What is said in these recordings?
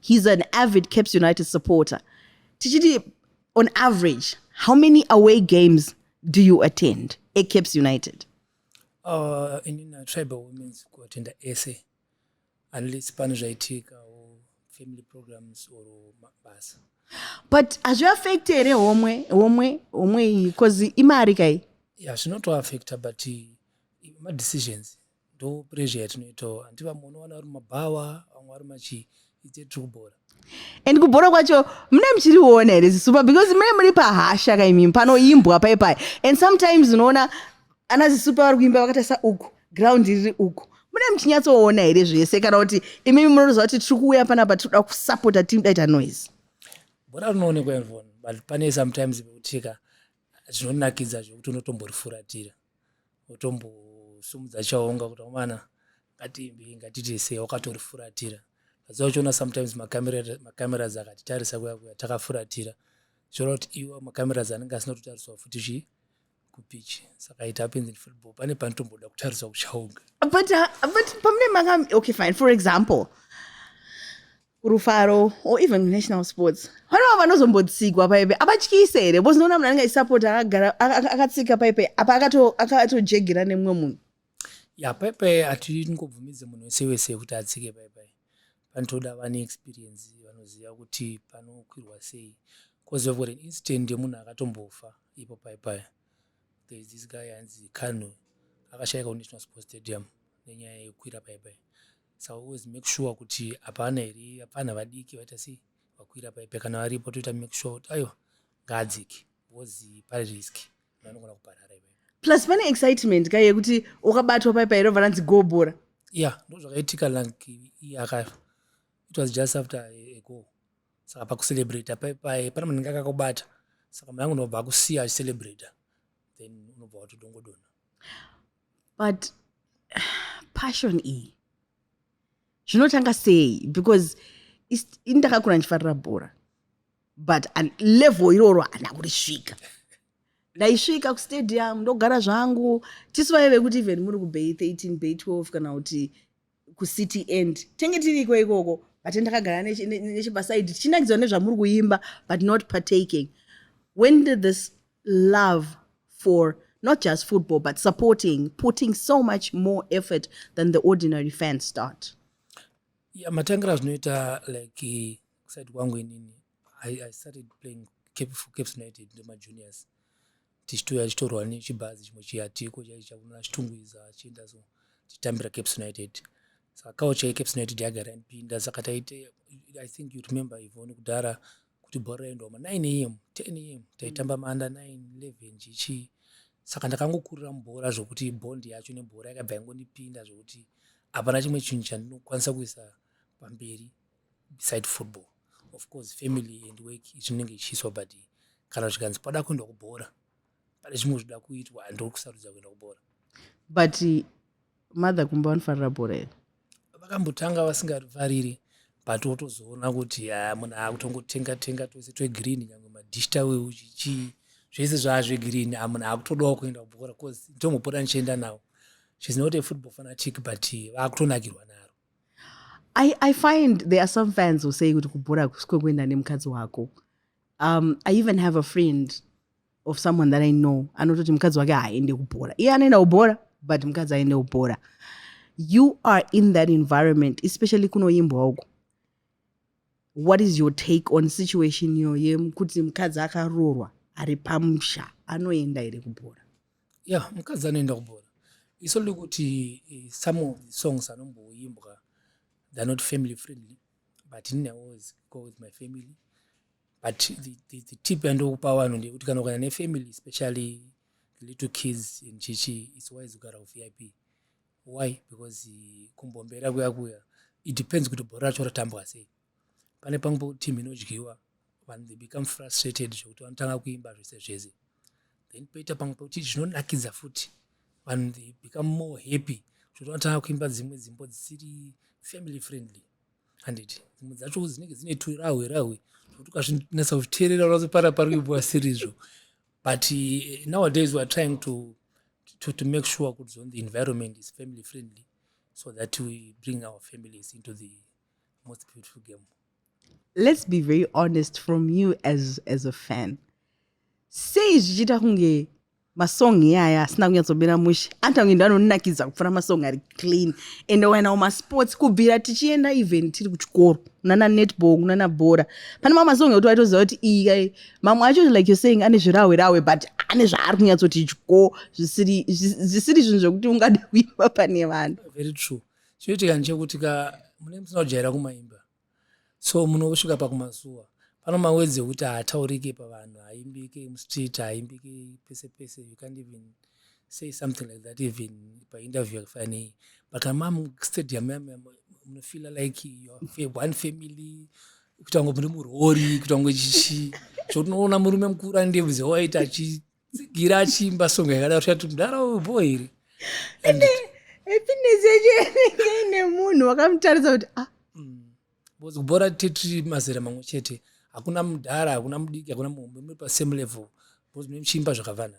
he's an avid caps united supporter tichiti on average how many away games do you attend ecaps united uh, inina tribal women's kuattenda ese unless pane zvaitika or family programs or mabasa but hazviaffect here homwe homwe homwe iyi bcause imari kai ya zvinotoaffecta but madecisions ndo pressure yatinoitawo hanti vamwe unowana vari mabhawa vamwe vari machii ite tiri kubhora and kubhora kwacho mune muchiriona here zisupa because mune muri pahasha kaimimi panoimbwa pai pai and sometimes unoona ana zisupa vari kuimba vakatarisa uku ground riri uku mune muchinyatsoona here zvese kana kuti imimi munotoziva kuti tiri kuuya panapa tiri kuda kusapota tidaita noise bhora rinoonekwa evon but pane sometimes vekutika zvinonakidza zvekuti unotomborifuratira utombosumudza chaunga kuti amana ngatiimbe ngatiite sei wakatorifuratira asi uchiona sometimes macameras akatitarisa kuya kuya takafuratira zvoona kuti iwa macameras anenge asina kutotariswa futi chii kupichi saka it happens in football pane panotomboda kutariswa kuchaunga but, uh, but pamune maka okay fine for example kurufaro or even kunational sports vanova vanozombotsikwa paipe abatyise here because noona munhu anenge achisapota akagara akatsika paipe apa akatojegera nemumwe munhu ya paipai hatingobvumidze munhu wese wese kuti atsike paipai panotoda vane experience vanoziva kuti panokwirwa sei bcause vevgot an incident yemunhu akatombofa ipo paipai there is this guy anzi kano akashaika kunational sports stadium nenyaya yekukwira paipai so always make sure kuti hapana here hapana vadiki vaita sei vakwira paipe kana varipo toita make sure kuti aiwa ngaadziki because pari risk vanogona kuparara ivo plus pane excitement ka yekuti wakabatwa paipa here obva ranzi gobora ya ndo zvakaitika like akafa it was just after a go saka pakucelebrata paipaye pane munenge akakubata saka mwangu unobva akusiya acicelebrata then unobva watodongodona but passion iyi zvinotanga sei because ini ndakakura ndichifarira bhora but level iroro hana kurisvika ndaisvika kustadium ndogara zvangu tisu vaive kuti even muri kubay 13 bay 12 kana kuti kucity end tenge tiriko ikoko but ndakagara nechepasaidi tichinakidza nezvamuri kuimba but not partaking when did this love for not just football but supporting putting so much more effort than the ordinary fans start yeah, matangira zvinoita like kusaidi kwangu inini I, I started playing Cape, for Cape United nemajuniors tichitouya tichitorwa nechibhazi chimwe chiyatiko chaichi chakunona chitungwiza achienda so tichitambira Cape United saka kawo chai Cape United yagara yanipinda saka taite I think you remember Yvonne kudhara kuti bhora raendwa ma 9 am 10 am taitamba maanda 9 11 chichii saka ndakangokurira mubhora zvokuti bondi yacho nebhora yakabva yangondipinda zvokuti hapana chimwe chinhu chandinokwanisa kuisa pamberi beside football of course family and work zvinenge zvichiiswa but kana zvikanzi pada kuenda kubhora pane zvimwe zvida kuitwa handiri kusarudza kuenda kubhora but mother kumba vanofarira bhora here vakambotanga vasingarifariri but wotozoona kuti ah, munhu akutongotenga tenga twese twegreen nyange madish taweu zvichii zvese zvaazvegreen ah, munhu akutodawo kuenda kubhora bcause ndombopota ndichienda nawo she's not a football fanatic but vakutonakirwa naro I, I find there are some fans who say kuti kubhora hakusi kwekuenda nemukadzi wako um, i even have a friend of someone that i know anototi mukadzi wake haaende kubhora iye anoenda kubhora but mukadzi aende kubhora you are in that environment especially kunoimbwa uko what is your take on situation iyo yekuti mukadzi akaroorwa ari pamusha anoenda here kubhora ya yeah, mukadzi anoenda kubhora iso liri kuti eh, some of the songs anomboimbwa they're not family friendly but ini always go with my family but the, the, the tip yandokupa vanhu ndeyekuti kana ukana nefamily especially the little kids and chichi its wise kugara kuvip why because kumbombera kuya kuya it depends kuti bhora racho ratambwa sei pane pamwe team inodyiwa vanhu they become frustrated zvekuti vanotanga kuimba zvese zvese then poita pamwe pekuti zvinonakidza futi vanhu they become more happy zvekuti vanotanga kuimba dzimwe dzimbo dzisiri family friendly handiti dzimwe dzacho dzinenge dzine turahwe rahwe zvekuti ukazvinatsa kuteerera unazopara pari kuimbwa sirizvo but eh, nowadays weare trying to, to, to make sure kuti zon the environment is family friendly so that we bring our families into the most beautiful game let's be very honest from you as, as a fan sei zvichiita kunge masong iyaya asina kunyatsobira mushe anti ange ndo anonakidza kupfura masong ari clean ende wainawo masports kubvira tichienda even tiri kuchikoro kunana netball kunana bhora pane mamwe masong ekuti waitoziva kuti iyi mamwe acho like you're saying ane zvirahwe rahwe but ane zvaari kunyatsoti dyo zvisiri zvisiri zvinhu zvekuti ungade kuimba pane vanhu very true chinoitika ndechekuti ka mune musina kujaira kumaimba so munosvika pakumazuva pano mawedzi ekuti haataurike pavanhu haimbike mustreet haimbike pese pese you can't even say something like that even painterview yakafanei but amam stadium munofeela like one family kuita kunge muri murori kuita kunge chichi zvotinoona murume mukuru andiye muze waita achitsigira achiimba songo yakadaro tati mudhara boy here ende happiness yacho yanenge ine munhu wakamutaridza kuti ah because mm. kubhora tiri mazera mamwe chete hakuna mudhara hakuna mudiki hakuna muhombe muri pasame level because mune muchiimba zvakavanana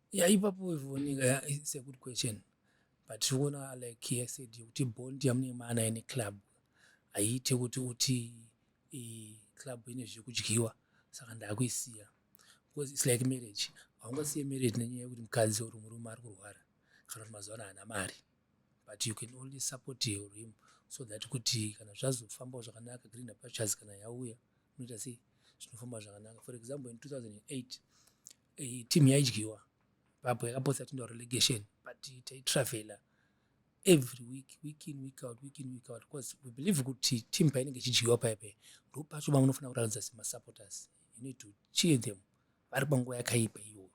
ya ipapo ivoneka ya it's a good question but tiri kuona like he said yekuti bond yamune maana ine club haiite kuti uti club ine zvekudyiwa saka ndakuisiya because its like marriage haungasiye marriage nenyaya yekuti mukadzi or murume ari kurwara kana kuti mazuva ano haana mari but you can only support him so that kuti kana zvazofambawo zvakanaka green apachas kana yauya unoita sei zvinofamba zvakanaka for example in 2008 eh, team yaidyiwa vapo yakapotsa tinda relegation but taitravela every week week in week out week in week out because we believe kuti team painenge ichidyiwa paya paya ndo pacho vamunofanira kuratidza semasupporters you need to cheer them vari panguva yakaipa iyoyo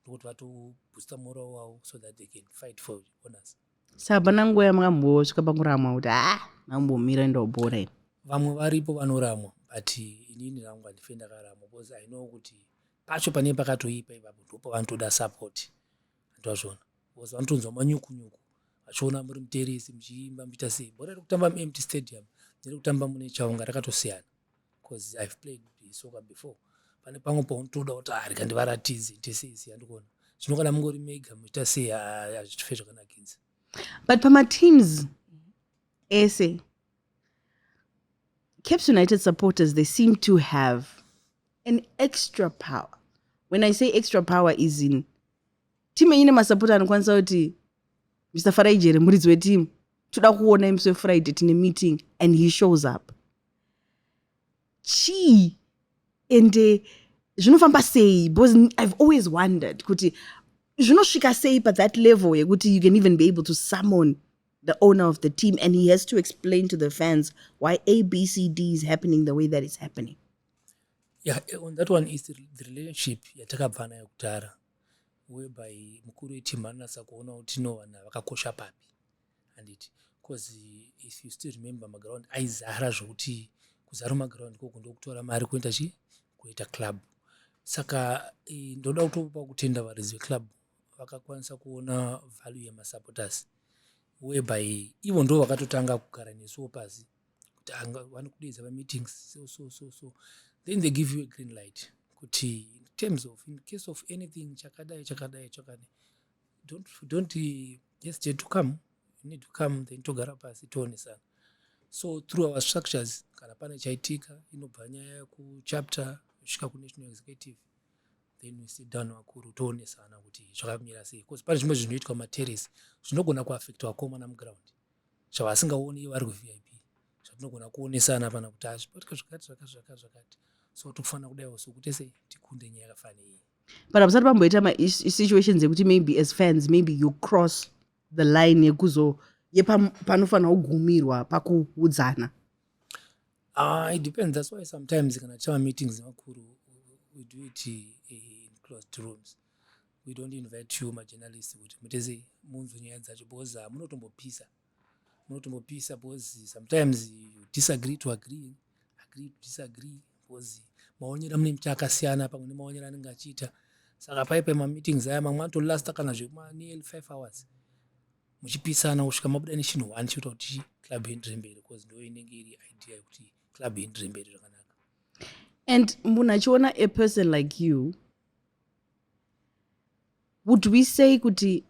ndokuti vatoboosta mora wavo so that they can fight for honors sa hapana nguva yamwambosvika pakuramwa kuti ha ah, mambomira ndobhora vamwe varipo vanoramwa but inini rangu handife ndakaramwa because i know kuti pacho pane pakatoipa ipapo ndipo vanotoda support ndozvona because vanotonzwa manyuku nyuku vachiona muri muteresi muchiimba muchiita sei bhora riri kutamba muempty stadium neri kutamba mune chaunga rakatosiyana because i've played soccer before pane pamwe paunotoda kuti arika ah, ndivaratidze ite sei sei andikuona zvino kana mungori mega muchiita sei ah, hazvitife zvakanakidza but pamateams ese Caps United supporters, they seem to have an extra power. When I say extra power is in team ine masapota anokwanisa kuti Mr. Farai Jere muridzi wetimu toda kuona imusi wefriday tine meeting and he shows up chii ende zvinofamba sei because i've always wondered kuti zvinosvika sei pathat level yekuti you can even be able to summon the owner of the team and he has to explain to the fans why abcd is happening the way that is happening yeah eh, on that one is the relationship yatakabva nayo kudhara whereby mukuru weteam anonatsa kuona kuti no vanhu vakakosha papi handiti bcause if you still remember maground aizara zvokuti kuzara maground koko ndokutora mari kuenda chi kuita club saka eh, ndoda kutopa kutenda varidzi veclub vakakwanisa kuona value yemasupporters whereby ivo ndo vakatotanga kugara nesuwo pasi kuti vanokudeedza pameetings so so so so then they give you a green light kuti in terms of in case of anything chakadai chakadai chakadai don't, don't hesitate to come you need to come then togara pasi toonesana so through our structures kana pane chaitika inobva nyaya kuchapter kusvika kunational executive then we sit down vakuru toonesana kuti zvakamira sei bcause pane zvimwe zvinhu zvinoitwa materrace zvinogona kuaffect vakomana muground zvavasingaoni ivo vari kuvip zvatinogona kuonesana pana kuti hazvibatika zvakati zvakati zvakati zvakati so tikufanira kudaiwo sokuti sei tikunde nyaya yakafanei but abusati pamboita masituations ekuti maybe as fans maybe you cross the line yekuzo yepanofanira kugumirwa pakuudzana Ah, it depends. That's why sometimes kana tichava meetings vakuru we do it eh, in closed rooms. We don't invite you majournalists kuti mutese munzwe nyaya dzacho because ah, munotombopisa munotombopisa because sometimes you disagree to agree agree to disagree because maonero amune mita akasiyana pamwe nemaonero anenge achiita saka paipe mameetings aya mamwe anotolasta kana zvekuma nearly five hours muchipitsana kusvika mabuda nechinhu one chinoita kuti club ienderere mberi because ndo inenge iri idea yekuti club ienderere mberi zvakanaka and munhu achiona a person like you would we say kuti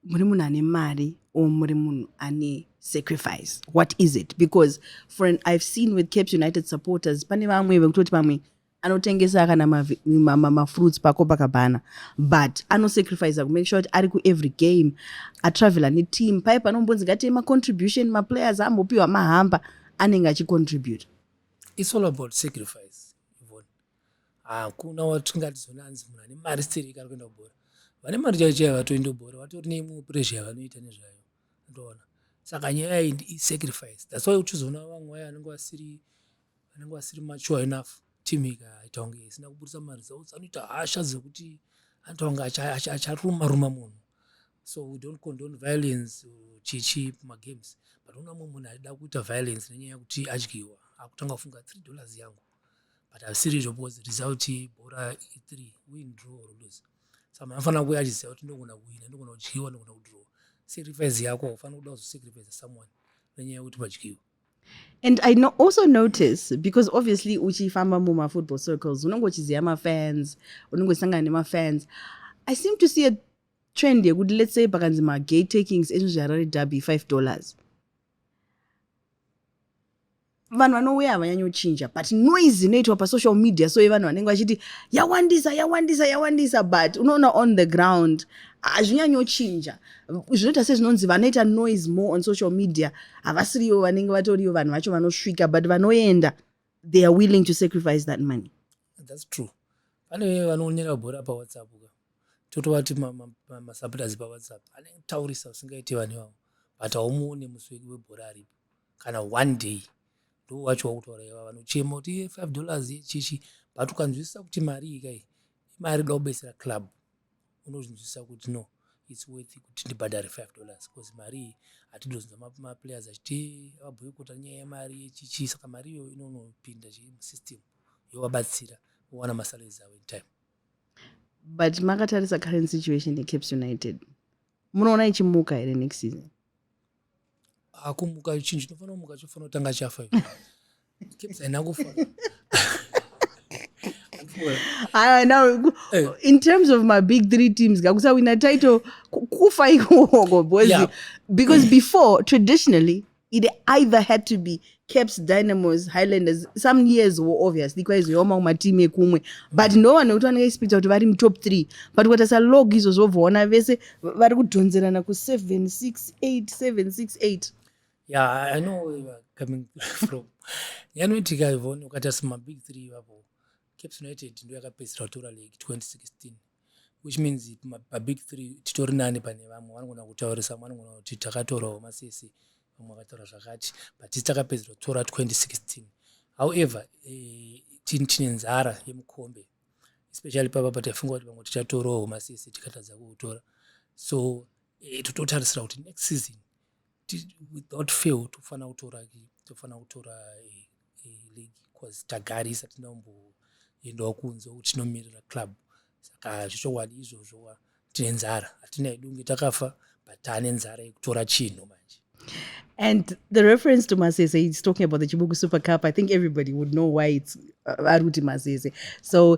muri munhu ane mari or muri munhu ane sacrifice what is it because for an i've seen with caps united supporters pane vamwe vekutoti vamwe anotengesa kana mafruits pacopacabana but anosacrifica kumake sure kuti ari kuevery game atravela neteam paye panombonzi ngatei macontribution maplayers ambopiwa mahamba anenge achicontribute its all about sacrifice hakuna watingatizona anzi munhu ane mari stirika ari kuenda kubhora vane mari chaiyo chaiyo vatoenda kubhora vatori neimwe pressure yavanoita nezvayo ndoona saka nyaya iyi isacrifice thats why uchizoona vamwe vaye vanenge vasiri vanenge vasiri mature enough team ikaita kunge isina kuburitsa maresults anoita hasha dzekuti anoita kunge acharuma ruma munhu so we don't condone violence chichi pamagames but una mumwe munhu aida kuita violence nenyaya yekuti adyiwa akutanga kufunga three dollars yangu but asiri izvo because result bhora ithree win draw or lose so munhu anofanira kuuya achiziva kuti ndogona kuwina ndogona kudyiwa ndogona kudraw sacrifice yako haufanira kuda kuzosacrifice someone nenyaya yekuti padyiwa and i no also notice because obviously uchifamba mumafootball circles unenge uchiziva mafans unenge uchisangana nemafans i seem to see a trend yekuti let's say pakanzi magay takings ezvinhu zveharare derby five dollars vanhu vanouya havanyanyochinja but noise inoitwa pasocial media so yevanhu vanenge vachiti yawandisa yawandisa yawandisa but unoona on the ground hazvinyanyochinja zvinoita sezvinonzi vanoita noise more on social media havasiriyo vanenge vatoriyo vanhu vacho vanosvika but vanoenda they are willing to sacrifice that money that's true pane vanoonera bhora pawhatsapp ka totovati masupporters pawhatsapp anotaurisa usingaiti vanhu ivavo but haumuone musweki webhora aripo kana one day ndo wacho wakutaura iva vanochema kuti iye five dollars yechichi but ukanzwisisa kuti mari ikai imari da kubetsera club unozvinzwisisa kuti no its worth kuti ndibhadhare five dollars bcause mari iyi hatidozonza maplayers achiti vabhoikota nyaya yemari yechichi saka mari iyoyo inonopinda chii musystem yovabatsira vowana masalaries avo in time but makatarisa current situation yecaps united munoona ichimuka here next season akumuka chinhu chinofanira kumuka chofanira kutanga chafa kepsaina kufa ah, now eh. in terms of my big three teams kakusawina title kufa ikoko boys yeah. because before traditionally it either had to be caps dynamos highlanders some years wo obviously kwaizoiwamawo matimu ekumwe but ndo vanhu vekuti vanenge ispita kuti vari mutop three but ukatarisa log izvo zvobvoona vese vari kudhonzerana kuseven six eight seven six eight yeah i know where you are coming from yanoitika ivon ukatarisa mabig three ivapo caps united ndo yakapedzisira kutora league 2016 which means pabig three titori nani pane vamwe vanogona kutaurisa vamwe vanogona kuti takatora homa sese vamwe vakataura zvakati but tisi takapedzera kutora 2016 however eh, tini tine nzara yemukombe especially papa pataifunga kuti vamwe tichatora homa sese tikatadza kuutora so eh, tototarisira kuti next season without fail tofanira kutora tofanira kutora eh, eh, league bcause tagarisa tinombeendawo kunze kuti tinomirira club saka zvechokwadi izvozvo tine nzara hatina yedu kunge takafa but taane nzara yekutora chinhu manje And the reference to Masese, he's talking about the Chibuku Super Cup. I think everybody would know why it's uh, Aruti Masese. So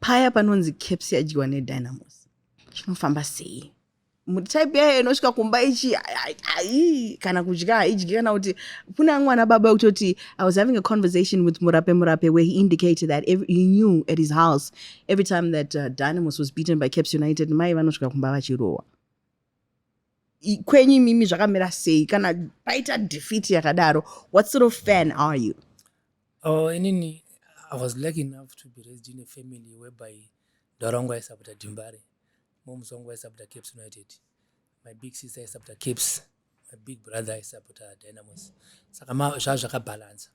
paya panonzi caps yadyiwa nedynamos chinofamba sei type yayo inosvika kumba ichi ai kana kudya haidyi kana kuti kune amwe ana baba kutoti i was having a conversation with murape murape where he indicated that every, he knew at his house every time that uh, dynamos was beaten by caps united mai vanosvika kumba vachirohwa kwenyu imimi zvakamira sei kana paita defeat yakadaro what sort of fan are you oh, inini i was lucky enough to be raised in a family whereby dora wangu aisapota dimbare moms wangu aisapota caps united my big sister aisapota caps my big brother aisapota dynamos saka zvaa zvakabalansa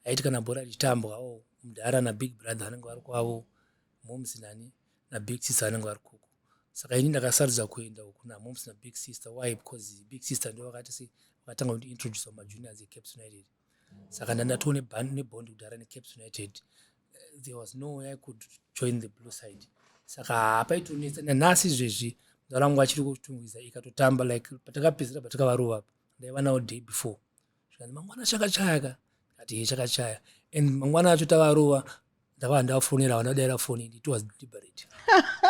aiti kana bhora richitambwa o oh, mudhara nabig brother anenge vari kwavo moms nani nabig sister anenge vari kuku saka ini ndakasarudza kuenda uku namoms nabig sister why because big sister ndo vakati se vakatanga kundiintroduce kumajuniors ecaps united saka ndandatoo nebond kudhara necaps united eh, there was no way i could join the blue side saka hapaitonetsa nanhasi izvezvi mzala wangu achiri kutungwiza ikatotamba like patakapedzera patakavarova ndaiva nawo day before zvikanzi mangwana chakachaya ka ati ye chakachaya and mangwana acho tavarova ndavaa ndafonera vanodaira foni it was deliberate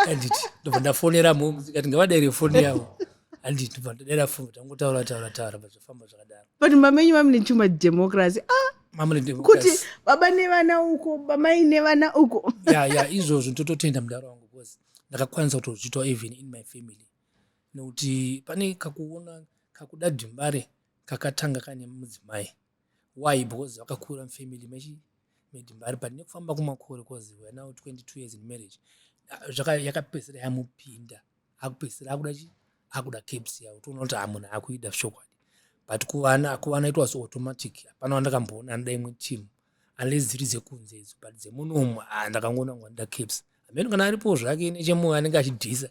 andit ndobva ndafonera mom ndikati ngavadaire foni yavo andit ndobva ndadaira foni tangotaura taura taura zvafamba zvakadaro but mamenyu vamine chuma democracy ah kuti baba nevana uko bamai nevana uko ya ya izvozvo ndototenda mudaro wangu bcause ndakakwanisa kutozviitwa even in my family nekuti pane kakuona kakuda dhimbare kakatanga kane mudzimai why because vakakura mufamily mechi made mari but nekufamba kumakore cause weare now 22 years in marriage yakapedzisira yamupinda akupedzisira akuda chi akuda caps yavo toona kuti amunhu ah, akuida zvokwadi but kuvana kuvana itwa so automatic hapana wandakamboona anoda imwe team unless dziri dzekunze idzo but dzemunomu ah, ndakangoona kuti anoda caps amene kana aripo zvake nechemoyo anenge achidhisa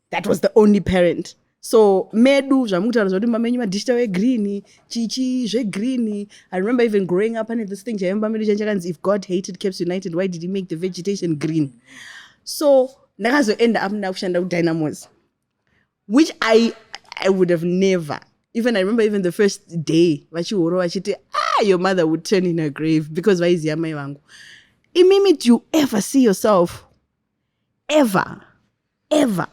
that was the only parent so medu zvamukutaura zvakuti mumba menyu madishita wegreen chichi zvegreen i remember even growing up ane this thing chaive mumba medu chanchakanzi if god hated caps united why did he make the vegetation green so ndakazoenda up ndakushanda kudynamos which i i would have never even i remember even the first day vachihoro vachiti ah your mother would turn in her grave because vaiziva mai vangu imimi do you ever see yourself ever ever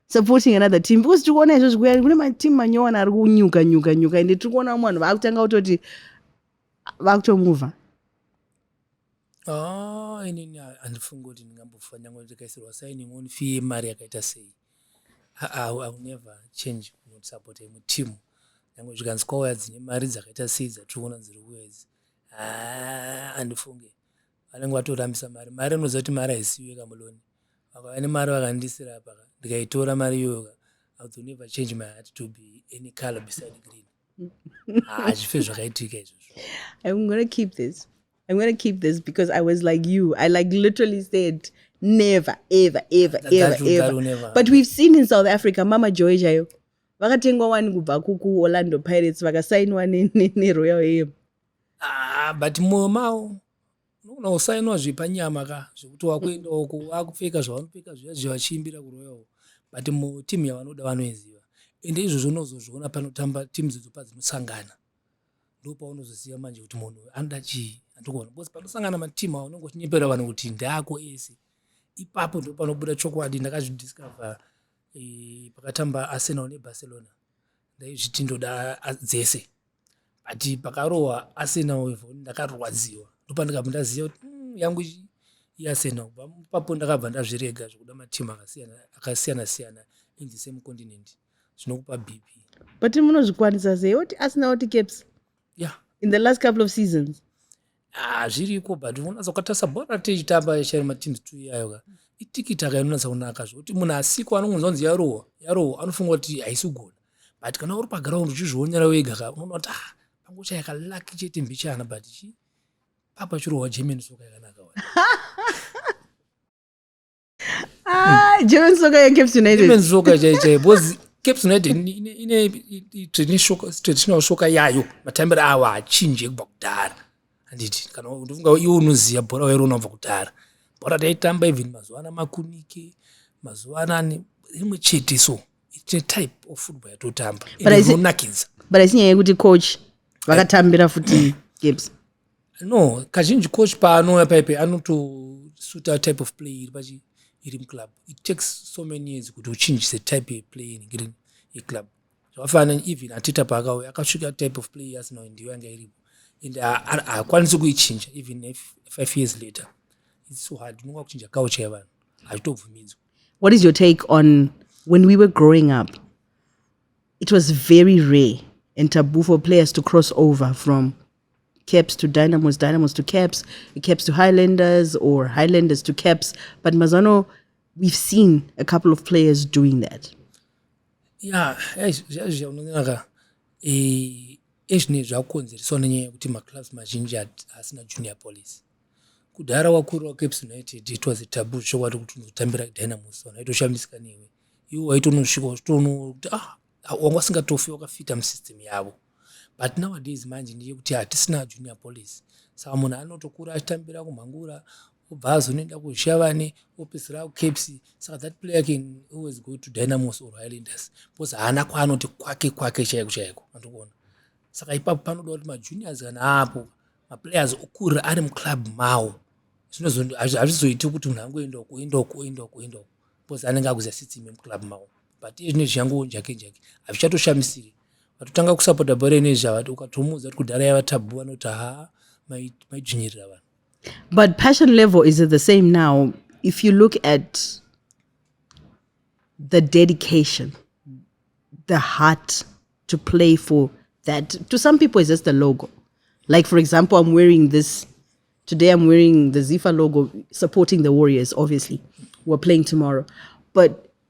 supporting another team because tiri kuona izvozvi kuya kune mateam manyowani ari kunyuka nyuka nyuka ende tiri kuona vamwe vanhu vaakutanga kutoti vakutomuvha ah, inini handifungi kuti ndingambofanira kuti ndikaisirwa signing on fee yemari yakaita sei iwill never change not support imwe team nyange zvikanzi kwauya dzine mari dzakaita sei dzatiri kuona dziri kuya idzi ah, handifunge vanenge vatorambisa mari mari anoziva kuti mari haisiyo ka muloni vakava nemari vakandisira apa ka ndikaitora mari iyoyo ka i will never change my heart to be any color beside green hazvife ah, zvakaitika izvozvo i'm gonna keep this i'm gonna keep this because i was like you i like literally said never ever ever that, ever that, ever that never. but we've seen in south africa mama joy chaiyo vakatengwa wani kubva kukuorlando pirates vakasainwa neroyal ne, ne, ne am Ah, but mwoyo mavo unogona kusainwa zvepanyama ka zvekuti wakuenda uko wakupfeka zvavanopfeka zviya zviya vachiimbira kuroya uko but mutimu yavanoda vanoiziva ende izvozvo unozozviona panotamba timu dzodzo padzinosangana ndo paunozoziva manje kuti munhu anoda chii andikuona bcause panosangana matimu a unenge uchinyepera vanhu kuti ndaako ese ipapo ndo panobuda chokwadi ndakazvidiscover e, pakatamba arsenal nebarcelona ndaizviti ndoda dzese but pakarohwa arsenal ivo ndakarwadziwa ndopandikabva ndaziva kuti mm, yangu iarsenal bva papo ndakabva ndazvirega zvekuda matimu akasiyana siyana in the same continent zvinokupa bp but munozvikwanisa sei oti arsenal oti caps yeah in the last couple of seasons Ah, zviriko but unonatsa ukatarisa bhora ratichitamba chero mateams two iyayo ka itikiti akainonatsa kunaka zvekuti munhu asiko anongonzwa kunzi yarohwa yarohwa anofunga kuti haisi kugona but kana uri pagraund uchizvionera wega ka unoona kuti ah pangochaya kalaki chete mbichana but chi papa chirohwa german soka yakanaka Ah, German soccer yeCaps United. German soccer chaichai because Caps United ine traditional soccer yayo matambiro awo achinje kubva kudhara handiti kana ndofunga iwo unoziva bhora wairo unobva kudhara bhora taitamba even mazuva ana makunike mazuva anani rimwe chete so it's a type of football yatotamba inonakidza but asi nyaya yekuti coach vakatambira futi games no kazhinji coach paanouya paipe anotosuta type of play iri pachi iri muclub it takes so many years kuti uchinjise type yeplay inenge yeclub zvakafanana even atita paakauya akasvika type of play yasina ndiyo yanga iripo and haakwanisi kuichinja even five years later its so hard unonga kuchinja couch yevanhu hazvitobvumidzwa what is your take on when we were growing up it was very rare and taboo for players to cross over from caps to dynamos dynamos to caps caps to highlanders or highlanders to caps but mazano we've seen a couple of players doing that ya zviya unonaka eh, ezvinei zvakukonzereswa nenyaya yekuti maclubs mazhinji asina junior police kudhara wakuru wacaps united it was a tabu zvokwati kuti unotambira dynamos ona aitoshamisika newe iwo waitonosvika uchitoona kuti ah wanga usingatofi wakafita musystem yavo but nowadays manje ndeyekuti hatisina junior police saka munhu anotokura achitambira kumhangura obva azonoenda kuzvishavane opedzisira kucaps saka that player can always go to dynamos or highlanders because haana kwaanoti kwake kwake chaiko chaiko andokuona saka ipapo panoda kuti majuniors kana aapo maplayers okurira ari muclub mawo hazvizoiti kuti munhu angoenda uko oenda uko oenda uko oenda uko because anenge akuziva sitime muclub mawo but iye zvine zviyangu jake jake hazvichatoshamisire vatotanga kusapota bhora ine zvavati ukatomuudza kuti kudhara yava tabhu vanoti haa maidzvinyirira vanhu but passion level is the same now if you look at the dedication the heart to play for that to some people is just a logo like for example i'm wearing this today i'm wearing the zifa logo supporting the warriors obviously we're playing tomorrow but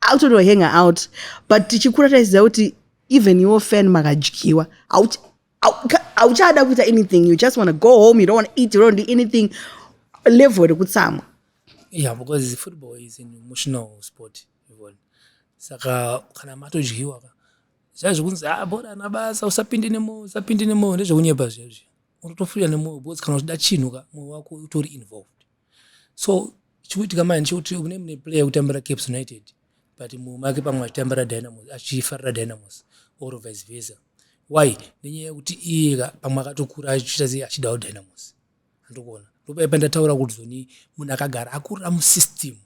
akutonohanga out but tichikura taiziva kuti even your fan makadyiwa hauchada kuita anything you just want to go home you don't want to eat you don't do anything level rekutsamwa yeah because football is an emotional sport yvonne saka kana matodyiwa ka zviya zvekunzi a ah, bora ana basa usapinde nemoyo usapinde nemoyo ndezvekunyepa zviya zviya unotofurira nemoyo because kana uchida chinhu ka moyo wako utori involved so chikuitika manje chekuti kune mune player yekutambira caps united but mumwe make pamwe achitambira dynamos achifarira dynamos or vice versa why nenyaya yekuti iyeka pamwe akatokura achiita sei achidawo dynamos andokuona ndopaipa ndataura kuti zoni munhu akagara akurira musystem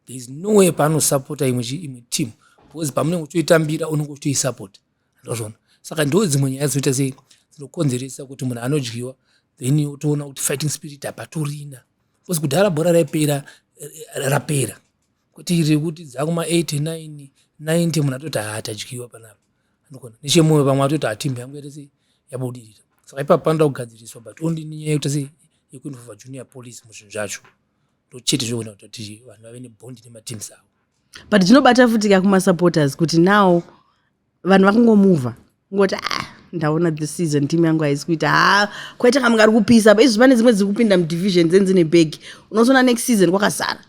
there is no way paanosapota imwe imwe team because pamunenge uchitoitambira unenge uchitoisapota ndozvona saka ndo dzimwe nyaya dzinoita sei dzinokonzeresa kuti munhu anodyiwa then otoona kuti fighting spirit hapatorina bcause kudhara bhora raipera eh, rapera kuti rekuti dzakuma 89 90 munhu atoti haatadyiwa panapa anogona nechemoyo vamwe atoti hatimbi yangu yatese yabudirira saka ipapo panoda kugadziriswa but only nenyaya yekuti se yekuinvova junior police muzvinhu zvacho ndochete zvinoona kuti vanhu vave nebondi nemateams avo but zvinobata futi ka kumasupporters kuti now vanhu vakungomuvha ngoti ah ndaona the season team yangu haisi kuita ha kwaita kamwe kari kupisa apa izvi pane dzimwe dziri kupinda mudivision dzenzi nebhegi unozoona next season kwakazara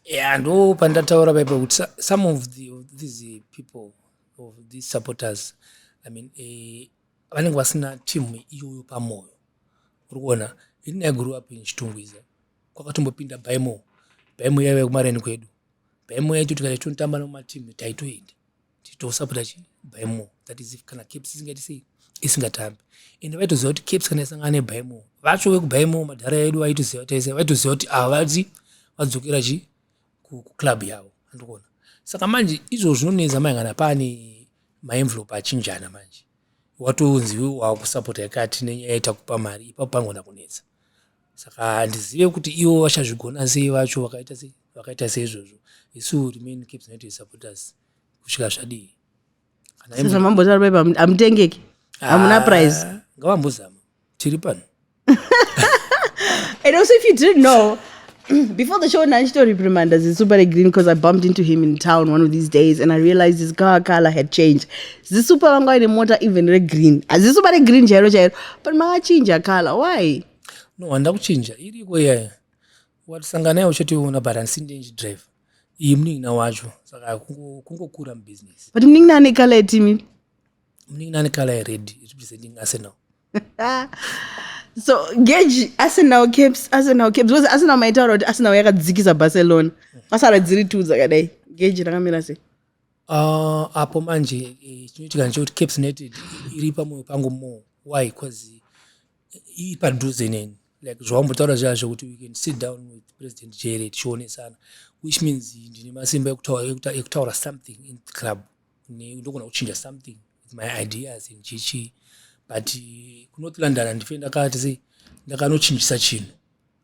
ya ndo pandataura paipa kuti some of, the, of these people of these supporters i mean uh, vanenge vasina team iyoyo pamoyo uri kuona ini i grew up in chitungwiza kwakatombopinda baimo baimo yaive kumareni kwedu baimo yaito tikati tonotamba nematimu taitoenda titosapota chi baimo that is if kana caps isingati sei isingatambi ende vaitoziva kuti caps kana isangana nebaimo vacho vekubaimo madhara edu vaitoziva tese vaitoziva kuti ava vadzi vadzokera chi kuclub yavo andikuona saka manje izvo zvinonetsa manje kana pane maenvelope achinjana manje watonzi wakusapota yakati nenyaya yetakupa mari ipapo pangona kunetsa saka handizive kuti ivo vachazvigona sei vacho vakaita sei vakaita seizvozvo isu remain caps united supporters kusvika zvadii sezvamambotaura paipa hamutengeki hamuna ah, prize ngavambozama tiri pano and also if you didn't know before the show nanchito reprimanda zisupare green because i bumped into him in town one of these days and i realized his car color had changed zisupa vanga vaine mota even regreen hazisupa regreen chairo chairo but makachinja color why no handida kuchinja iriko iyaya watisanga naye uchationa but handisi ndiye ndichidriver iyi munin'ina wacho saka kungokura mubusiness but munin'ina ane kala yetimi munin'ina ane kala yered representing arsenal so geji arsenal caps arsenal caps because arsenal maitaura kuti arsenal yakadzikisa barcelona pasara dziri two dzakadai geji rakamira sei Uh, apo manje eh, chinoitika ndechekuti caps united iri pamoyo pangu more why bcause ipadhuze neni like zvawambotaura zviya zvekuti we can sit down with president jere tichionesana which means ndine masimba ekutaura something in the club ndogona kuchinja something with my ideas in chichi but kunotilandana ndife ndakati sei ndakanochinjisa chinhu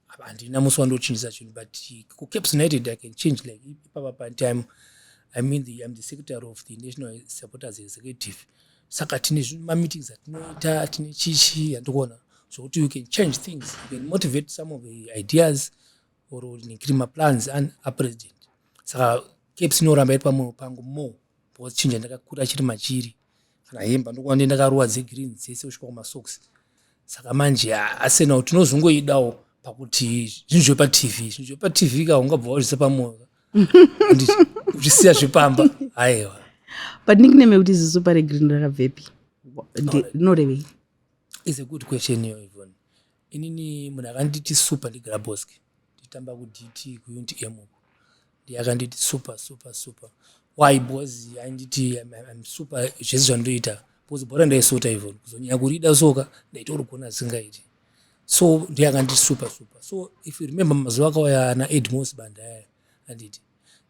handina musi wandochinjisa chinhu but kucaps united i can change like ipapa patime i mean the, im the secretary of the national supporters executive saka tine mameetings atinoita tine chichi yandikuona zvokuti you can change things you can motivate some of the ideas or nekiri maplans an apresident saka caps inoramba iri pamwoyo pangu more because chinja ndakakura chiri machiri kana hembe ndokuva ndiye ndakaruwa dzegreen dzese kusvika kumasocks saka manje arsenal tinozongoidawo pakuti zvinhu zvepatv zvinhu zvepatv ka ungabva wazvisa pamwoyo uchisiya zvepamba aiwa but nickname yekuti zisupa regreen rakabvepi rinorevei is a good question iyoyo inini munhu akanditi super ndigraboski nditamba kudt kuunit m uko ndiye akanditi super super super why because ainditi im super zvese zvandoita because bhora ndaisota even kuzonyanya kurida soka ndaitorigona asingaiti so ndiye akanditi super super so if you remember mazuva akauya ana edmos bandaya anditi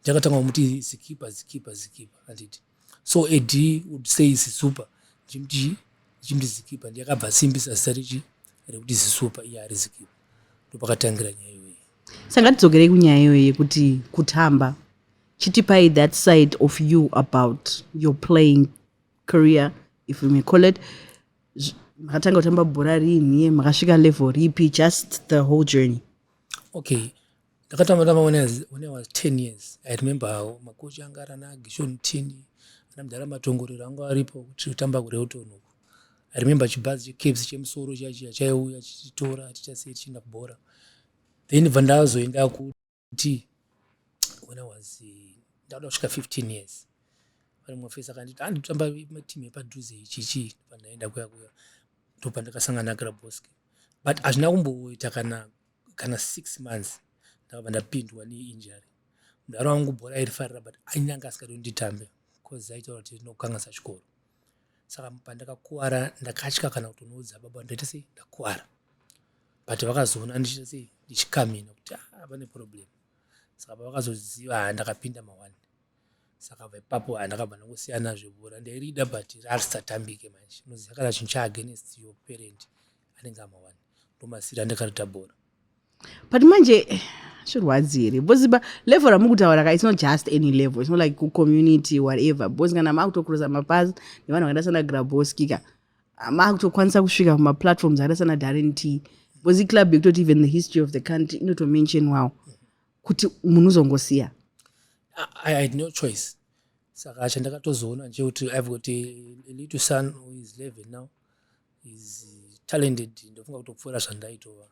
ndakatanga kumuti zikipa zikipa zikipa anditi so ad would say zisupa ndichimuti ndichimuti zikipa ndiyakabva asimbisa zita rechi rekuti zisupa iye ari zikipa ndopakatangira nyaya iyoyi saka tidzogerei kunyaya iyoyi yekuti kutamba chitipai that side of you about your playing career if we may call it makatanga kutamba bhora riinhiye makasvika level ripi just the whole journey okay ndakatamba tamba when I was, when I was 10 years I remember how makochi anga ari ana Gishon Tini ana mudhara matongorero anga aripo kuti totamba kuReuton uku I remember chibhazi cheCaps chemusoro chachiya chaiuya chichitora tichasiya tichienda kubhora then bva ndazoenda kuti when I was eh, ndakada kusvika 15 years pane mumwe fesi akanditi handi kutamba matimu epadhuze ichichi pandaenda kuya kuya ndopandakasangana naGraboski but hazvina kumboita kana kana six months ndakabva ndapindwa neinjury mudhara wangu bhora airifarira but ainyange asikadi kunditambe bcause aitaura kuti rinokukanganisa chikoro saka pandakakuvara ndakatya kana kutonoudza baba ndaita sei ndakuvara but vakazoona ndichiita sei ndichikamina kuti ah, pane problem saka pavakazoziva ha ndakapinda mawani saka vaipapo ha ndakabva ndangosiyana zvebhora ndairida but rarisatambike manje unoziva kana chinhu chaagenest your parent anenge amawani ndomasira ndakarita bhora but manje zvirwadzi here because ba level ramukutaura ka it's not just any level it's not like kucommunity whatever because kana makutokurusa mapazi nevanhu vakaita sana graboski ka makutokwanisa kusvika kumaplatforms akaita sana darren t because iclub yekutoti even the history of the country inotomention wawo kuti munhu uzongosiya i had no choice saka chandakatozoona nje kuti i've got a, a little son who is 11 now is talented ndofunga kutopfuura zvandaitova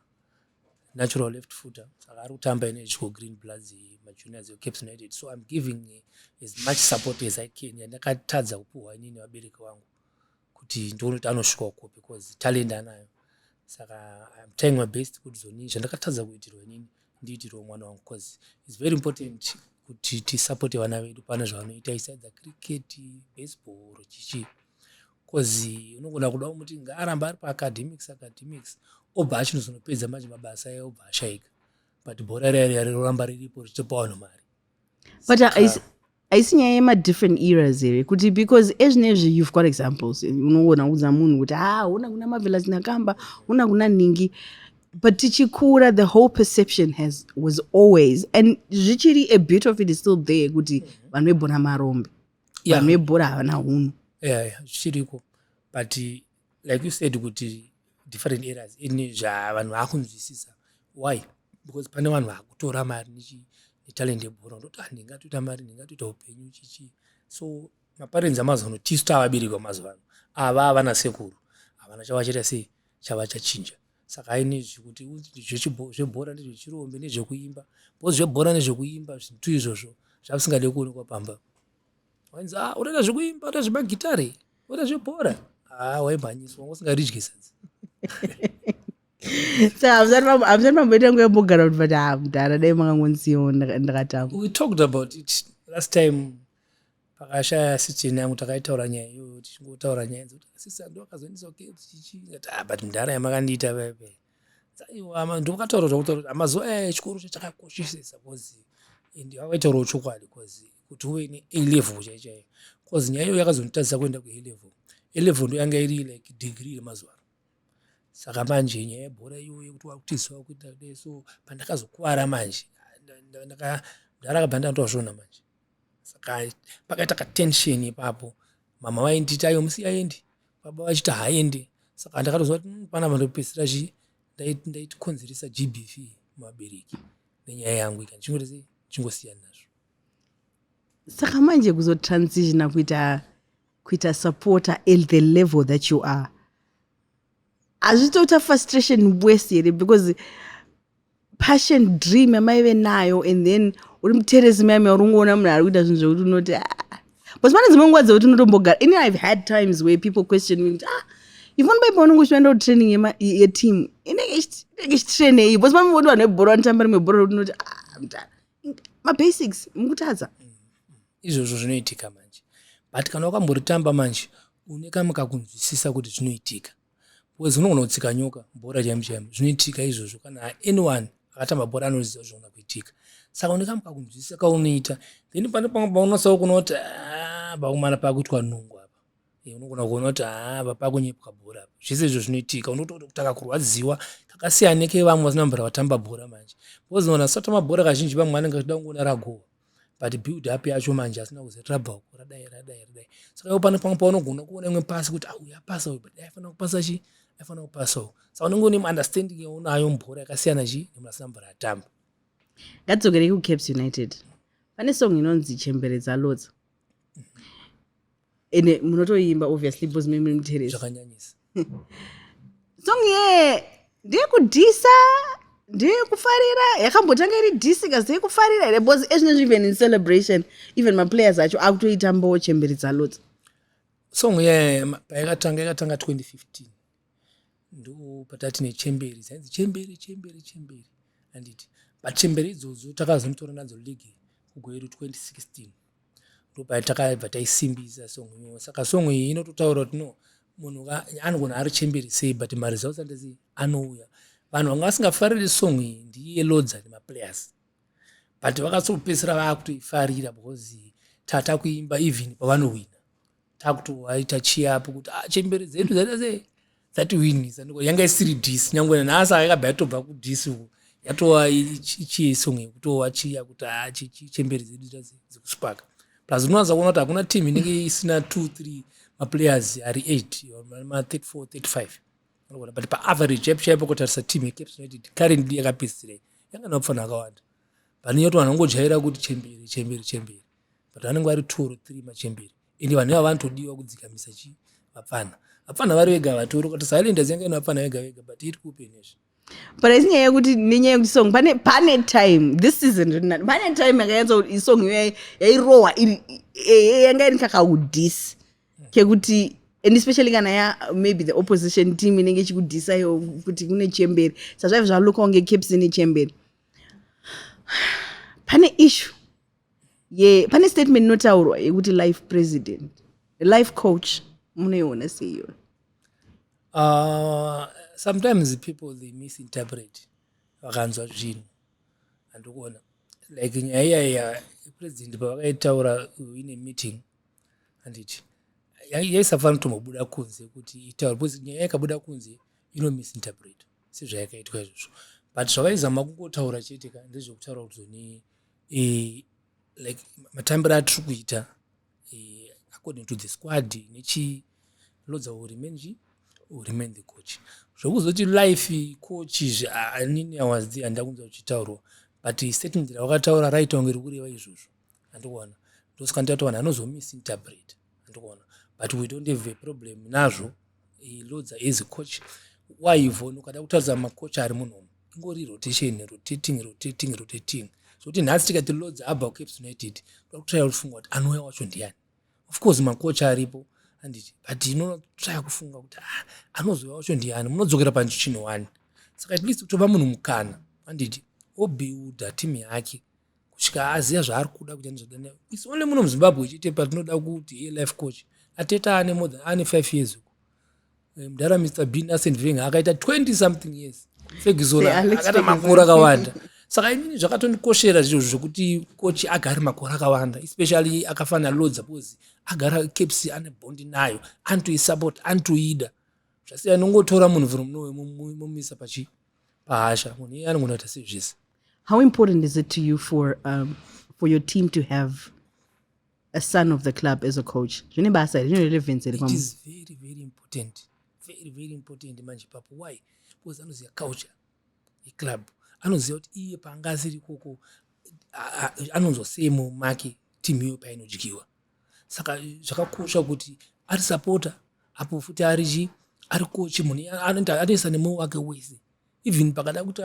natural left footer saka ari kutamba ine chico green bloods majuniors ecaps united so im giving as much support as i can yandakatadza kupiwa inini vabereki vangu kuti ndione kuti anosvika uko because talent anayo saka im trying my best kuti zoni zvandakatadza kuitirwa inini ndiitirwa mwana wangu bcause its very important kuti tisapote vana vedu pane zvavanoita isaidza cricket baseball or chichii bcoz unogona kuda kumuti ngaaramba ari paacademics academics obva achinozonopedza manje mabasa aye obva ashaika but bhora raroramba riripo richitopa vanhu mari but haisi nyaya yemadifferent eras here kuti because ezvinezvi you've got examples unogona kuudza munhu kuti ha ah, una kuna mavelas nakamba una kuna ningi but tichikura the whole perception has was always and zvichiri a bit of it is still there kuti vanhu vebhona marombe yeah. vanhu vebhora havana hunhu yeah, yeah. zvichiriko but like you said kuti different areas ini zvavanhu vakunzwisisa why because pane vanhu vakutora mari netalent yebhora ndoti ah, ndingatoita mari ndingatoita upenyu chichii so maparenzi amazano tisu tavabereki vamazuva ano ava havana sekuru havana chavachaita sei chavachachinja saka aine izvi kuti zvebhora nezvechirombe nezvekuimba bcause zvebhora nezvekuimba zvintu izvozvo zvavisingade kuonekwa pamba wainzi ah unoita zvekuimba unoita zvemagitare unoita zvebhora haa ah, waimhanyiswa wanga usingaridye sadzi sahamsani mamboita nguva yembogara kuti vati hamdara ah, dai makangonziwo ndakatamba we talked about it last time pakashaya assistant yangu takaitaura nyaya iyoyo tichingotaura nyaya dzokuti assistant ndo akazoendesa kukfc chii ndikati ah but mdhara yamakandiita pepe aiwa ndokataura zvakutaura kuti amazuva aya echikoro chachakakoshesesa bcause and vakaitaurawo chokwadi bcause kuti uve ne a level chai chaiyo bcause nyaya iyoyo yakazonditadzisa kuenda kua level a level ndo yanga iri like degree yemazuva ano saka manje nyaya yebhora iyoyo yekuti wakutiziva kuita so pandakazokuvara manje ndakabva ndatoazvona manje saka pakaita katension ipapo mama vaindi iti aiwa musiya aendi baba vachiti haaendi saka ndakatoziva kuti hmm, panapa ndopedzisira zvi ndaitikonzeresa gbv muvabereki nenyaya yangu ika ndichingoti ndichingosiyana nazvo saka manje kuzotransitiona kuita kuita supporter at the level that you are hazvitoita frustration worse here because passion dream yamaive nayo and then uri muteresi mayamya uri ungoona munhu ari kuita zvinhu zvekuti unoti ah. bcause pane dzimwe nguva dzekuti unotombogara ini ive had times where people question me kuti ah ifoni paipa unenge uchienda kutraining yeteam inenge ichitrainei bcause pane voti vanhu vebhora vanotamba rimwe bhora rekuti unoti ah mtana mabasics mukutadza izvozvo zvinoitika manje but kana wakamboritamba manje une kamukakunzwisisa kuti zvinoitika because unogona kutsika nyoka bhora chaimo chaimo zvinoitika izvozvo kana anyone akatamba bhora anoziva zvogona kuitika saka unekam kakunzwisisa kaunoita then pane pamwe paunosawo kuona kuti ah, pakumana pakuitwa nungu apa eh, unogona kuona kuti apa ah, pakunyepwa bhora apa zvese izvo zvinoitika unotoona kuti akakurwadziwa kakasiyana nekevamwe vasina mbura vatamba bhora manje because ona satamba bhora kazhinji vamwe anenge achida kungoona ragowa but build up yacho manje asina kuzotrabha uko radai radai radai saka iwo pane pamwe paunogona kuona imwe pasi kuti auya ah, pasa uyu but aifanira kupasa chi aifanira kupasa uyu saka unenge une understanding yaunayo mubhora yakasiyana chi nemunhu asina mvura atamba ngatidzokerei kucaps united pane song inonzi chembere dzalodza ende munotoimba obviously bcause mimi muteresi zvakanyanyisa song ye ndeyekudhisa ndeyekufarira yakambotanga iri dhisi kazi yekufarira here bcause ezvinezvi even in celebration even maplayers acho akutoita mbowo chemberi dzalodzi song ye payakatanga yakatanga 2015 ndo patati nechemberi dzainzi chemberi chemberi chemberi anditi but chemberi idzodzo takazonotora nadzo league kugweru 2016 ndopatakabva taisimbisa song iyoyo saka song iyi inototaura kuti no munhu anogona ari chemberi sei but maresults andisi anouya vanhu vanga vasingafariri song iyi ndiye lodza nemaplayers but vakatsopedzisira vaakutoifarira because tata kuimba even pavanohwina takuti waita chiapo kuti ah, chembere dzedu dzaita sei dzatiwinisa ndiko yanga isiri disi nyangwe nanhasi akakabva yatobva kudisi uko yatova ichiesong yekutova chiya kuti ha ah, chembere dzedu dzekuspaka plus unowanza kuona kuti hakuna team inenge isina two three maplayers ari eight ma34 35 anogona but paaverage chaipo chaipo kutarisa team yecaps united currently yakapedzisirei yanga nakufanira akawanda vanonyoti vanhu vangojaira kuti chembere chembere chembere but vanenge vari two or three machembere ende vanhu iva vanotodiwa kudzikamisa chii vapfana vapfana vari vega vatori kuti silent azianga ino vapfana vega vega but iri kuupenezve but asi nyaya yekuti nenyaya yekuti song pane pane time this season rinani pane time yakayanza kuti isong iyo yairohwa iri eh, yanga iri kakaudhisi kekuti and especially kana ya maybe the opposition team inenge ichikudhisa iyo kuti kune chemberi sazvaive zvalokawo ngecaps ine chemberi pane issue ye pane statement inotaurwa yekuti life president life coach munoiona seiyo uh, sometimes people they misinterpret vakanzwa zvinhu andikuona like nyaya iyaya president pavakaitaura ine meeting handiti yaisafanira kutombobuda kunze kuti itaure because nyaya yakabuda kunze ino misinterpret sezvayakaitwa izvozvo but zvavaizama kungotaura chete ka ndezvekutaura kuti zoni e, like matambiro atiri kuita e, according to the squad nechi lodza will remain chi will remain the coach zvokuzoti life coach izvi anini i was there handida kunza kuchitaurwa but statement rawakataura raita kunge rikureva izvozvo andikuona ndosaka ndati vanhu anozomisi interpret ndikuona but we don't have a problem nazvo he loads as a coach why ivon ukada kutaridza macoach ari munhomo ingori rotation rotating rotating rotating zvokuti nhasi tikati loads abva kucaps united toda kutraya kufunga kuti anouya wacho ndiyani of course macoach aripo anditi but inotraya kufunga kuti ah, anozouya wacho ndiyani munodzokera panchichinowani saka at least kutova munhu mukana anditi obuilda team yake kusvika aziva zvaari kuda kuita nezvadana is only muno muzimbabwe chete patinoda kuti ye life coach ateta ane more than ane five years uko eh, mdara mr bin asent veng akaita 20 something years fegizola akaita makore akawanda saka inini zvakatondikoshera zviro zvekuti coach agare makore akawanda especially akafanira lodza because agara caps ane bondi nayo anotoisupport anotoida zvasiya nongotora munhu vhiri muno wemumisa pachii pahasha munhu iye anogona kuita sezvese how important is it to you for, um, for your team to have a son of the club as a coach zvine basa here zvine relevance here it is very very important very very important manje papo why because anoziva culture yeclub anoziva kuti iye paanga asiri ikoko anonzwa sei mumake timu iyo painodyiwa saka zvakakosha kuti ari sapota apo futi ari chii ari kochi munhu anoisa nemoyo wake wese even pakada kuti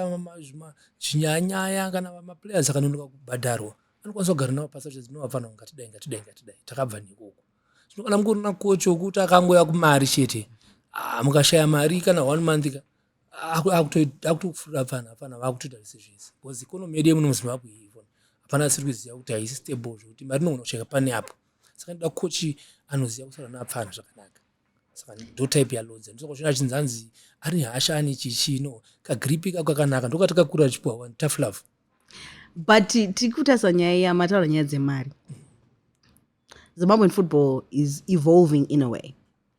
zvinyanyaya kana maplayers akanonoka kubhadharwa anokwanisa kugara navo pasi achizi ndinovafanira ngatidai ngatidai ngatidai takabva nekoko zvino kana mungorina kochi wokuti akangouya kumari chete ah, mukashaya mari kana one month ka akutofurira hapana hapana vakutoita zvese zvese bcause economy yedu yemuno muzimbabwe ivona hapana siri kuziva kuti haisi stable zvekuti mari inogona kushaika pane apo saka ndoda kochi anoziva kusara naapfana zvakanaka saka ndo type yalodza ndosakuzvina achinzi anzi ari hasha ane chichii no kagripi kako kakanaka ndokati kakura chipuwa one tough love but tiri kutarisa nyaya iya mataura nyaya dzemari zimbabwean football is evolving in a way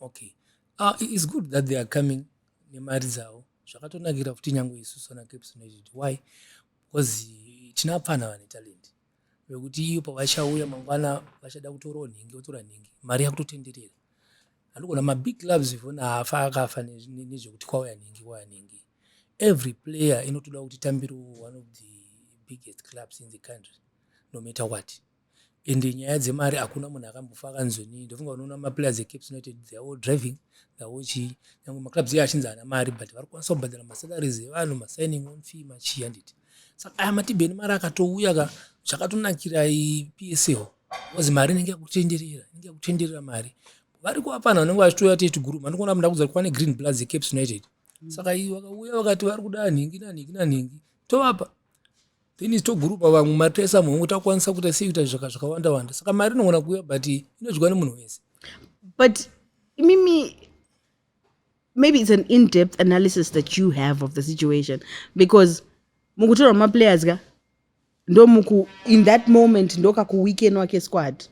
okay uh, it's good that they are coming nemari dzavo zvakatonakira futi nyange isu sona caps united why because tina pfana vane talent vekuti iyo pavachauya mangwana vachada kutorawo nhingi votora nhingi mari yakutotenderera handikona mabig clubs ivona haafa akafa nezvekuti kwauya nhingi kwauya nhingi every player inotoda kuti tambiriwo one of the biggest clubs in the country no matter what and nyaya dzemari hakuna munhu akambofa akanzonii ndofunga unoona maplayers ecaps united they are all driving they are all chii nyangwe maclubs iye achinzi haana mari but vari kukwanisa kubhadhara masalaries evanhu masigning on fee machii handiti saka aya matibheni mari akatouya ka zvakatonakira psl bcause mari inenge yakutenderera inenge yakutenderera mari vari kuvapana vanenge vachitouya tete guru mandikuona kuti ndakuudza kuti kwane green bloods ecaps united saka vakauya vakati vari kuda nhingi nanhingi nanhingi tovapa then is togurupa vamwe mari taisa muhongo takwanisa kuita sei kuita zvaka zvakawanda wanda saka mari inogona kuuya but inodyiwa nemunhu wese but imimi maybe it's an in-depth analysis that you have of the situation because mukutorwa maplayers ka ndomuku in that moment ndokakuweekend wake squad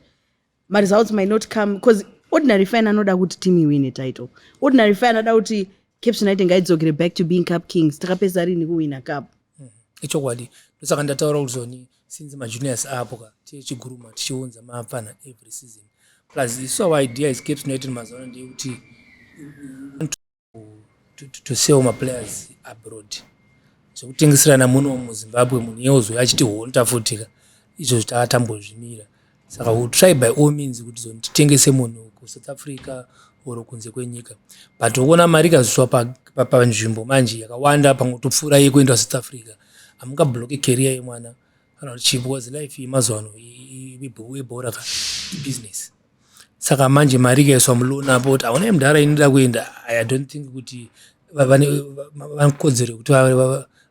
maresults might not come because ordinary fan anoda kuti team iwine title ordinary fan anoda kuti caps united ngaidzokere back to being cup kings takapedza rini kuwina cup mm-hmm. ichokwadi ndosaka ndataura kuti zoni since majuniors apo ka tiye chiguruma tichiunza mapfana every season plus isu our idea is caps united mazuva ano ndeyekuti to, to, to sell maplayers abroad zvekutengeserana muno muzimbabwe munhu iye ozouya achiti honta futika izvo zvitatambozvimira saka will try by all means kuti zonditengese munhu kusouth africa or kunze kwenyika but ukuona mari ikazviswa panzvimbo pa, pa manje yakawanda pamwe topfuura iye kuenda south africa hamungabloke career yemwana kana kuti chii because life yemazuva ano ibhora ka ibusiness saka manje mari ikaiswa muloan apo kuti hauna ah, mudhara inoda kuenda i don't think kuti vanekodzero yekuti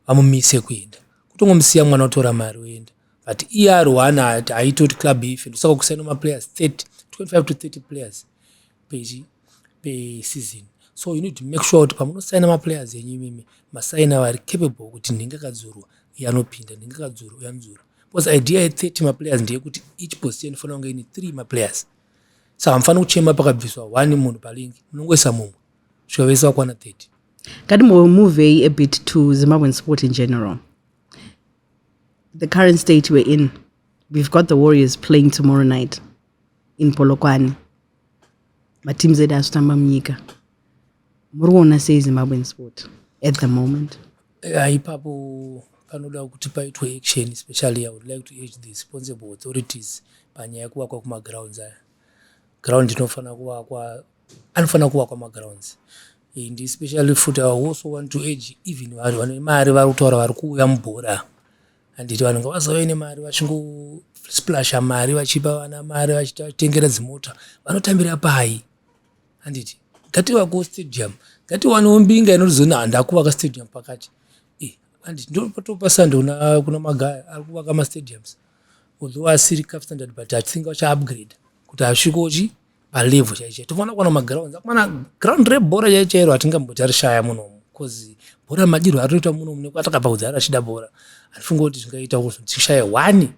vamumise kuenda kutongomusiya mwana otora mari oenda but iye ari one ati aitoti club ife ndosaka kusaina maplayers 30 25 to 30 players peseason so you need to make sure kuti pamunosaina maplayers enyu imimi masaina vari capable kuti ndingakadzurwa yanopinda ndingakadzurwa yanodzurwa because idea ye 30 maplayers ndeyekuti each position inofanira kunge ine three maplayers so hamufaniri kuchema pakabviswa one munhu palingi munongoisa mumwe svika vese vakwana 30 kati muvei a bit to zimbabwean sport in general the current state we're in we've got the warriors playing tomorrow night in polokwane mateams edu azvitamba munyika muri kuona sei zimbabwean sport at the moment uh, ipapo panoda kuti paitwe action especially i would like to age the responsible authorities panyaya yekuvakwa kumagrounds aya ground inofanira kuvakwa anofanira kuvakwa magrounds and especially futi i also want to age even vanhu vane mari vari kutaura vari kuuya mubhora handiti vanhu ngavazove nemari vachingosplash mari vachipa vana mari vachitengera dzimota vanotambira pai handiti ngativakewo stadium ngatiwanewo mbinga inotizona handakuvaka stadium pakati eh, handiti ndopatopasa ndona kuna magaya ari kuvaka mastadiums although asiri caf standard but athinga vachaupgrade kuti asvikochi palevel chaichai tofanira kuwana magrounds akumana ground rebhora chaichairo hatingamboti arishaya munomu bcause bhora madirwo aritoita munomu nekuti atakabva kudzara achida bhora handifunga kuti zvingaita kuzotishaya one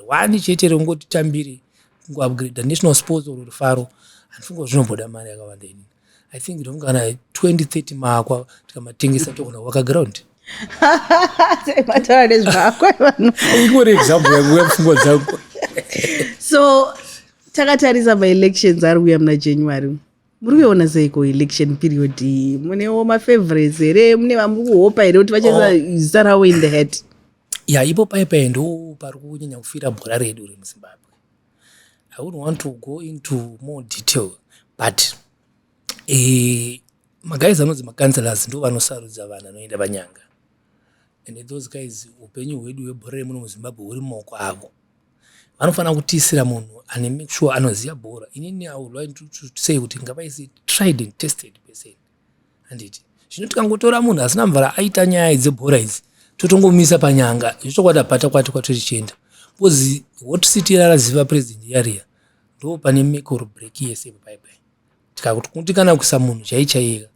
one chete rongoti tambire kungoupgrade national sports or rufaro handifunga zvinomboda mari yakawanda ini i think ndinonge kana 2030 maakwa tikamatengesa togona kuwaka ground mataura nezvako ingori example yangu yapfungwa dzangu so takatarisa maelections ari kuya muna january muri kuiona seiko election period iyi munewo mafavorites here mune vamuri kuhopa here kuti vachasa oh. zita ravo in the head ya ipo paipai ndo pari kunyanya kufira bhora redu remuzimbabwe i would want to go into more detail but eh, maguys anonzi macancelors ndo vanosarudza vanhu anoenda vanyanga and those guys upenyu hwedu hwebhora remuno muzimbabwe huri mumaoko avo vanofanira kutiisira munhu ane make sure anoziva bhora inini i would like to, to say kuti ngavaisi tried and tested person handiti zvino tikangotora munhu asina mvara aita nyaya dzebhora idzi totongomisa panyanga zvechokwadi apata kwati kwatotichienda bcoz hot city raraziva president yariya ndo pane mekoro break yese baibai tikakundikana kuisa munhu chaichaiyeka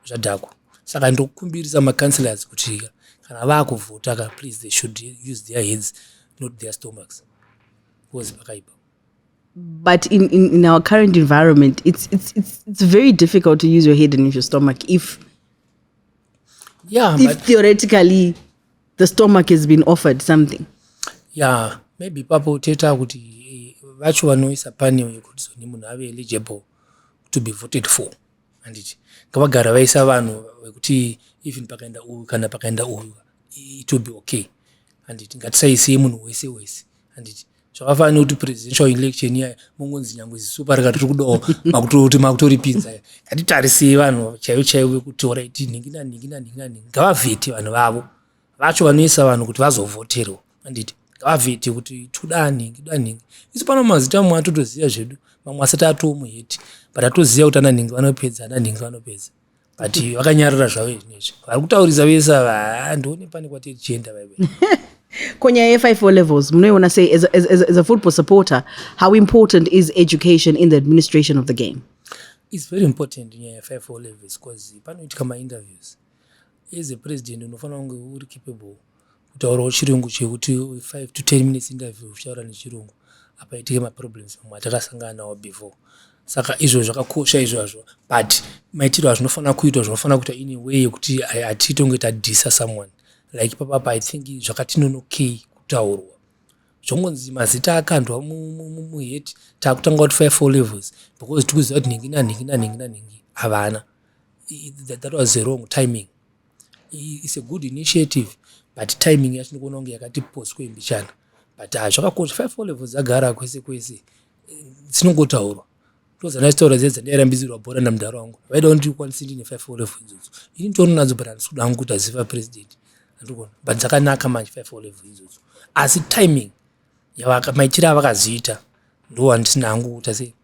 zvadhakwa saka ndokumbirisa macounselors kutika kana vakuvhota ka please they should use their heads not their stomachs bcoz pakaipa but in, in, in our current environment it's, it's, it's, it's very difficult to use your head and use your stomach if yeah if but, theoretically the stomach has been offered something yeah maybe papa uteta kuti eh, vacho vanoisa panel yekuti zoni munhu ave eligible to be voted for handiti ngavagara vaisa vanhu vekuti even pakaenda uyu kana pakaenda uyu it will be okay handiti ngatisaisei munhu wese wese handiti zvakafanana nekuti presidential election iya mongonzi nyangwe zisupa rika tiri kudawo makutoti makutoripinza ngatitarisei vanhu chaivo chaivo vekuti oraiti nhingi nanhingi nanhingi nanhingi ngavavheti vanhu vavo vacho vanoisa vanhu kuti vazovhoterwa anditi ngavavheti kuti toda nhingi da nhingi isu pano mazita amwe atotoziva zvedu mamwe asati atoomuheti but atoziva kuti ananhingi vanopedza ananhingi vanopedza but vakanyarara zvavo izvi nezvi vari kutaurisa vese ava haa ndione pane kwati tichienda vaive ko nyaya yefive o levels munoiona sei as, as, as, as a football supporter how important is education in the administration of the game its very important nyaya yefive o levels because panoitika mainterviews as a president unofanira kunge uri capable kutaurawo chirungu chekuti 5 to 10 minutes interview uchitaura nechirungu apaitike maproblems mamwe atakasangana nawo before saka izvo zvakakosha izvozvo but maitiro azvinofanira kuitwa zvinofanira kuita in way yekuti hatitonge tadhisa someone like papapa i think zvakatinonokei kutaurwa zvongonzi mazita akandwa muheti takutanga kuti five four levels because tikuziva kuti nhingi nanhingi nanhingi nanhingi havana that was a wrong timing It's a good initiative but timing yacho ndikuona kunge yakati postwe mbichana but ah, zvakakosha five o level dzagara kwese kwese dzinongotaurwa tozanaitaura dze dzandairambidzirwa bhora namudhara wangu vaida kundikwanisa ndine five o level idzodzo ini nditono nadzo but handisi kuda hangu kuti aziva president andikuona but dzakanaka manje five o level idzodzo asi timing yavaka maitire avakaziita ndo handisina hangu kuta sei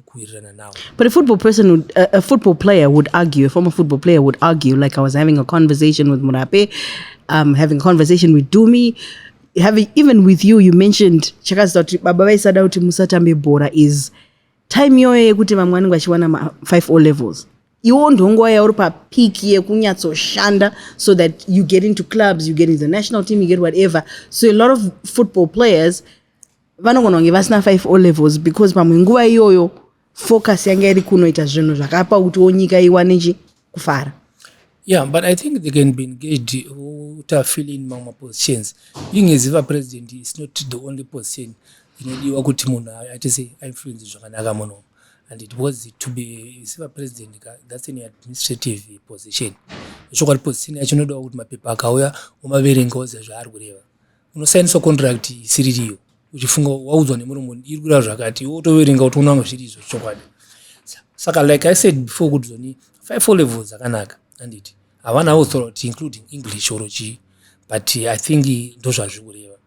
kuwirirana nawo but a football person would, a, a football player would argue a former football player would argue like i was having a conversation with murape um, having a conversation with dumi having even with you you mentioned chakazita kuti baba vaisada kuti musatambe bhora is time yoyo yekuti vamwe vanenge vachiwana ma5 o levels iwo ndonguva yauri papeak yekunyatsoshanda so that you get into clubs you get into the national team you get whatever so a lot of football players vanogona kunge vasina five o levels because pamwe nguva iyoyo focus yanga iri kunoita zvinhu zvakapa kutiwo nyika iwane chi kufara yeah but i think they can be engaged kuti afile in mamwe mapositions being as iva president is not the only position inodiwa kuti munhu aite se influence zvakanaka muno and it was to be isiva president ka that's an administrative position zvokwati position yacho inodawa kuti mapepa akauya umaverenga oziva zvaari kureva unosainiswa contract isiririyo uchifunga waudzwa nemuromo iri kureva zvakati iwe utoverenga kuti unanga zviri izvo chokwadi saka like i said before kuti zoni five four levels dzakanaka anditi havana author kuti including english or chii but i think ndo zvazviri kureva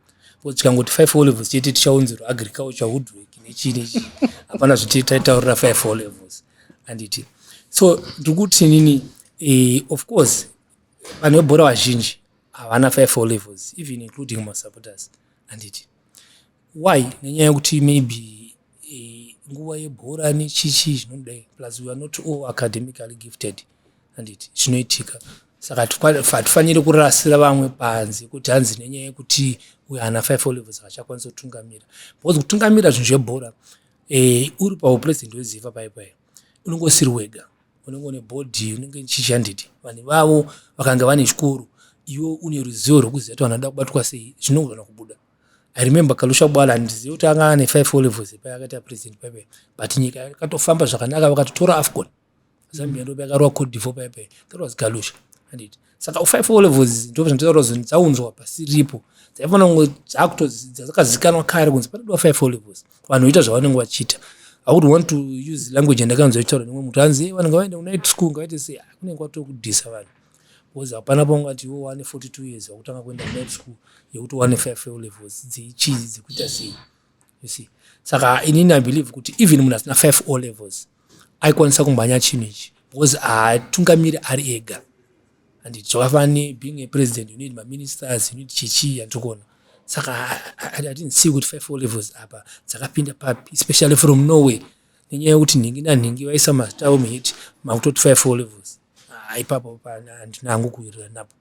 bcause tikangoti five four levels chete tichaunzirwa agriculture woodwork nechii nechii hapana zviti taitaurira five four levels anditi so ndiri kuti nini eh, of course vanhu vebhora vazhinji havana five o levels even including masupporters handiti why nenyaya yekuti maybe eh, nguva yebhora nechichi zvinodai plus weare not all academically gifted handiti zvinoitika saka hatifaniri kurasira vamwe panze kuti hanzi nenyaya yekuti uyo ana five o levels hachakwanisa kutungamira because kutungamira zvinhu zvebhora um uri paupresident wezifa paipai unongosiri wega unenge une body unenge chichi handiti vanhu vavo vakanga vane chikoro iwe une ruzivo rwekuziva kuti vanhu vanoda kubatwa sei zvinogona kubuda i remember kalusha bwala handizive kuti anga ane five olevels epa yakaita president paipai but nyika yakatofamba zvakanaka vakatotora afcon zambia ndopa yakarowa cote divo paipai that was kalusha handiti saka five o levels ndo zvanditaura zoni dzaunzwa pasiripo dzaifanira kunge dzakutodzidza dzakazikanwa kare kunzi panodiwa five o levels vanhu voita zvavanenge vachiita i would want to use language yandakanzwa ichitaura nemwe mutu anzi hey, vanhu ngavaende kunight school ngavaite sei ah, kunenge kwatokudhisa vanhu because hapana pangu ati iwo wane forty two years vakutanga kuenda kunight school yekuti wane five o levels dzeichizi dzekuita sei you see saka inini i believe kuti even munhu asina five o levels aikwanisa kumhanya chinhu ichi because haatungamiri ari ega and zvakafani being a president you need maministers you need chichii andikona saka i didn't see kuti five o levels apa dzakapinda papi especially from norway nenyaya yekuti nhingi nanhingi vaisa mazita avo muhit makutoti five o levels ah, ipapo handina hangu kuwirirana napo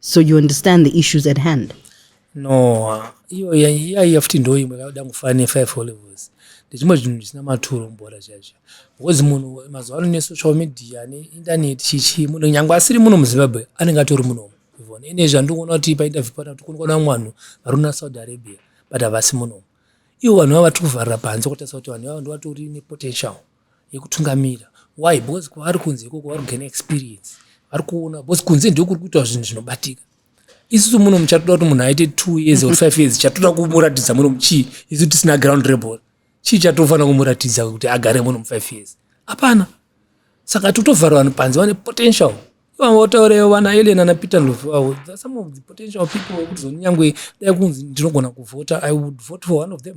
so you understand the issues at hand no iyo yaiya futi ndo imwe kakuda kufa nefive olevels ndechimwe chinhu chisina maturo mubhora chaizvo because munhu mazuva ano nesocial media neinternet chichi munhu nyange asiri muno muzimbabwe anenge atori muno ivona ine zvandikuona kuti painterview pana kuti kunikuona vamwe vanhu vari kuna saudi arabia but havasi muno ivo vanhu vava vatiri kuvharira panze kutarisa kuti vanhu vavo ndovatori nepotential yekutungamira why because kwavari kunze ikoko vari kugaina experience vari kuona because kunze ndiko kuri kuitwa zvinhu zvinobatika isusu muno muchatoda kuti munhu aite two years or five years chatoda kumuratidza muno muchii isu tisina ground rebol chii chatofanira kumuratidza kuti agare muno mufive years hapana saka totovhara vanhu panze vane potential ivanga vataura vana alien ana peter ndovu avo some of the potential people vekutizoni nyangwe dai kunzi ndinogona kuvhota i would vote for one of them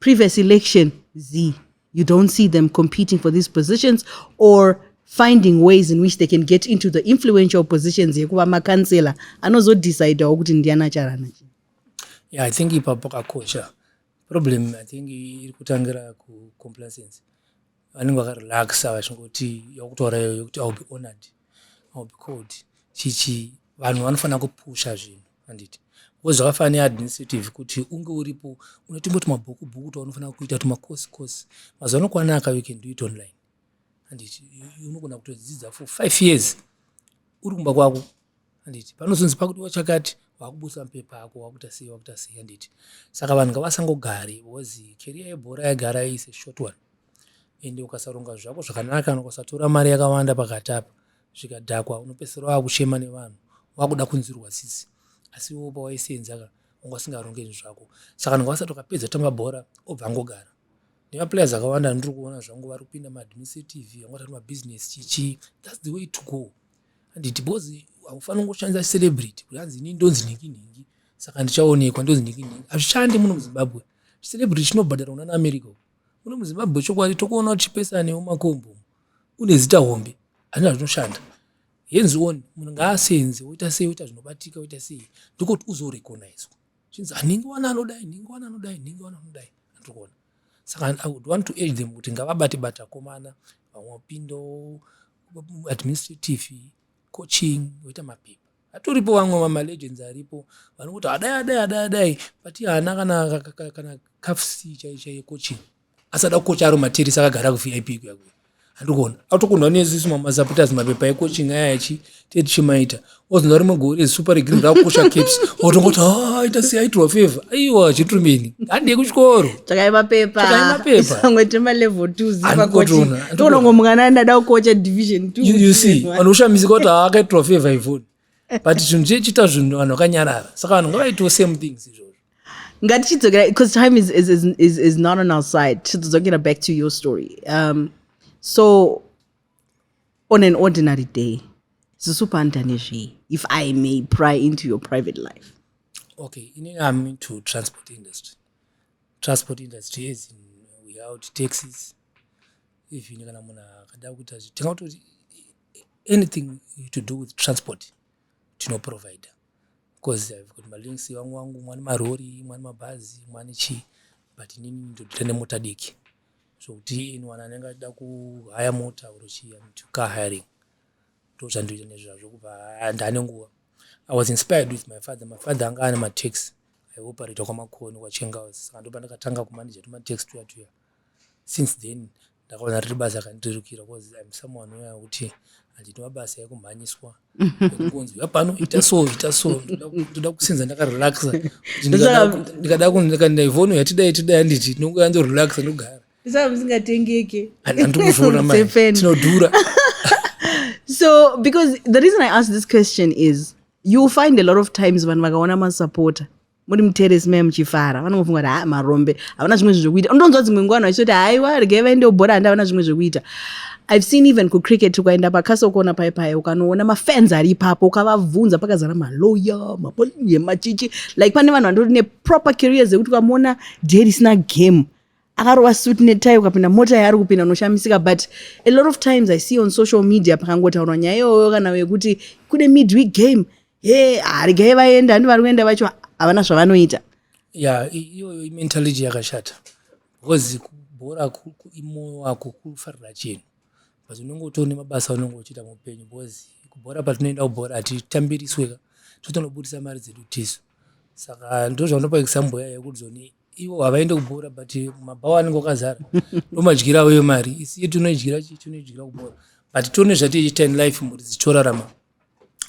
previous election z you don't see them competing for these positions or finding ways in which they can get into the influential positions yekuva makansela anozodecidawo kuti ndiana charana chi yeah, i think ipa pakakosha problem i think iri kutangira kucomplacency vanenge vakarelaxa vachingoti yakutora iyo yokuti iwill be honored iwill be called chichi vanhu vanofanira kupusha zvinhu handiti because zvakafanana neadministrative kuti unge uripo une tumwe tumabhuku bhuku twaunofanira kuita tumacourse course mazuva ano kwanaka you can do it online handiti unogona kutodzidza for five years uri kumba kwako handiti panozonzi pakuti wachakati wakubusa mupepa ako wakuita sei wakuita sei handiti saka vanhu ngavasangogari because keriya yebhora yagara ise short one ende ukasaronga zvako zvakanaka kana ukasatora mari yakawanda pakati apa zvikadhakwa unopedzisira wakuchema nevanhu wakuda kunzwirwa tsitsi asi iwo pawaisenzaka wanga usingaronge zvinhu zvako saka ndanga vasati wakapedza tamba bhora obva angogara nemaplayers akawanda ndiri kuona zvangu vari kupinda maadministrative vanga vatati mabusiness chichi thats the way to go handiti because haufanira kungoshandisa celebrity kuti hanzi ini ndonzi nhingi nhingi saka ndichaonekwa ndonzi nhingi nhingi hazvishandi muno muzimbabwe celebrity chinobhadhara kuna naamerica muno muzimbabwe chokwadi tokuona tichipesanewo makombo une zita hombe hazvina zvinoshanda hands on munhu ngaasenze woita sei woita zvinobatika woita sei ndokuti uzorecognizwa chinzi hanhingi wana anodai nhingi wana anodai nhingi wana anodai andikuona saka i would want to age them kuti ngavabate bata komana vamwe wapindo administrative coaching woita mapepa atoripo vamwe vamalegends aripo vanokuti adai adai adai adai but haana kana kana kafsi chaichaiye coaching asada kukocha aro matirisi akagara kuvip kuya kuya handikuona atokunwa nezisu mamasapoters mapepa ecoaching aya achi tetichimaita ozonwa rimwe gore super regreen rakukosha caps otongoti ah, ita sei aitirwa favor aiwa chitrumini handei kuchikoro tsvakai mapepa isamwe temalevel two zivakochitoonongo mwana andada kukocha division two you see vanhu kushamisika kuti haa ah, akaitirwa favor ivoni but chinhu chechiita zvinhu vanhu vakanyarara saka vanhu ngavaitiwo same things izvozvo ngatichidzokera because time is, is, is, is, is not on our side tichidzokera back to your story um, so on an ordinary day zisupanda nezvei if i may pry into your private life okay inini i'm into transport industry transport industry is in without taxes even kana munhu akada kuita zvitinga kutoti anything to do with transport tinoprovider coz I've got malinks vangu vangu mwane marori mwane mabhazi mwane chii but inini ndodita nemota diki zvokuti anyone anenge achida kuhaya mota or chii am to car hiring ndozvandoita nezvazvo kubva and ane nguva i was inspired with my father my father anga ane mataxi aioperata kwamakoni kwachengaus saka ndopandakatanga kumanaja tumataxi tuya tuya since then ndakaona riri basa rakandirukira bcause im someone uya wekuti handidi mabasa ekumhanyiswa ekungonzi uya pano ita so ita so ndoda kusinza ndakarelaxa ndikada kundikandaivhono yatidai tidai handiti ndinongoya ndorelaxa ndogara ndisava musingatengeke handikuzviona ma tinodhura so because the reason i ask this question is you find a lot of times vanhu vakaona masupporter muri muteresi mai muchifara vanongofunga kuti haa marombe havana zvimwe zvinhu zvekuita unonzwa dzimwe nguva vanhu vachitoti haiwa regai vaende ubhora handi havana zvimwe zvekuita i've seen even kucricket ukaenda pacastle kona pai pai ukanoona mafans ari ipapo ukavabvunza pakazara maloya mapoliye machichi like pane vanhu vandotori neproper careers ekuti ukamuona day risina game akarova suit netai ukapinda mota yaari kupinda unoshamisika but a lot of times i see on social media pakangotaurwa nyaya iyoyo kana yekuti kune midweek game he harigai vaenda handi vari kuenda vacho havana zvavanoita ya iyoyo imentality yakashata because bhora imoyo wako kufarira chinhu but unenge utoone mabasa unenge uchiita muupenyu because kubhora patinoenda kubhora hatitambirisweka totonobudisa mari dzedu tisu saka ndozvanopa example yayo yekuti zoni ivo havaende kubhora but mabhawa anenge akazara ndomadyira avo yemari isiye tinoidyira chii tinoidyira kubhora but tione zvatiiita in life mhuri dzichorarama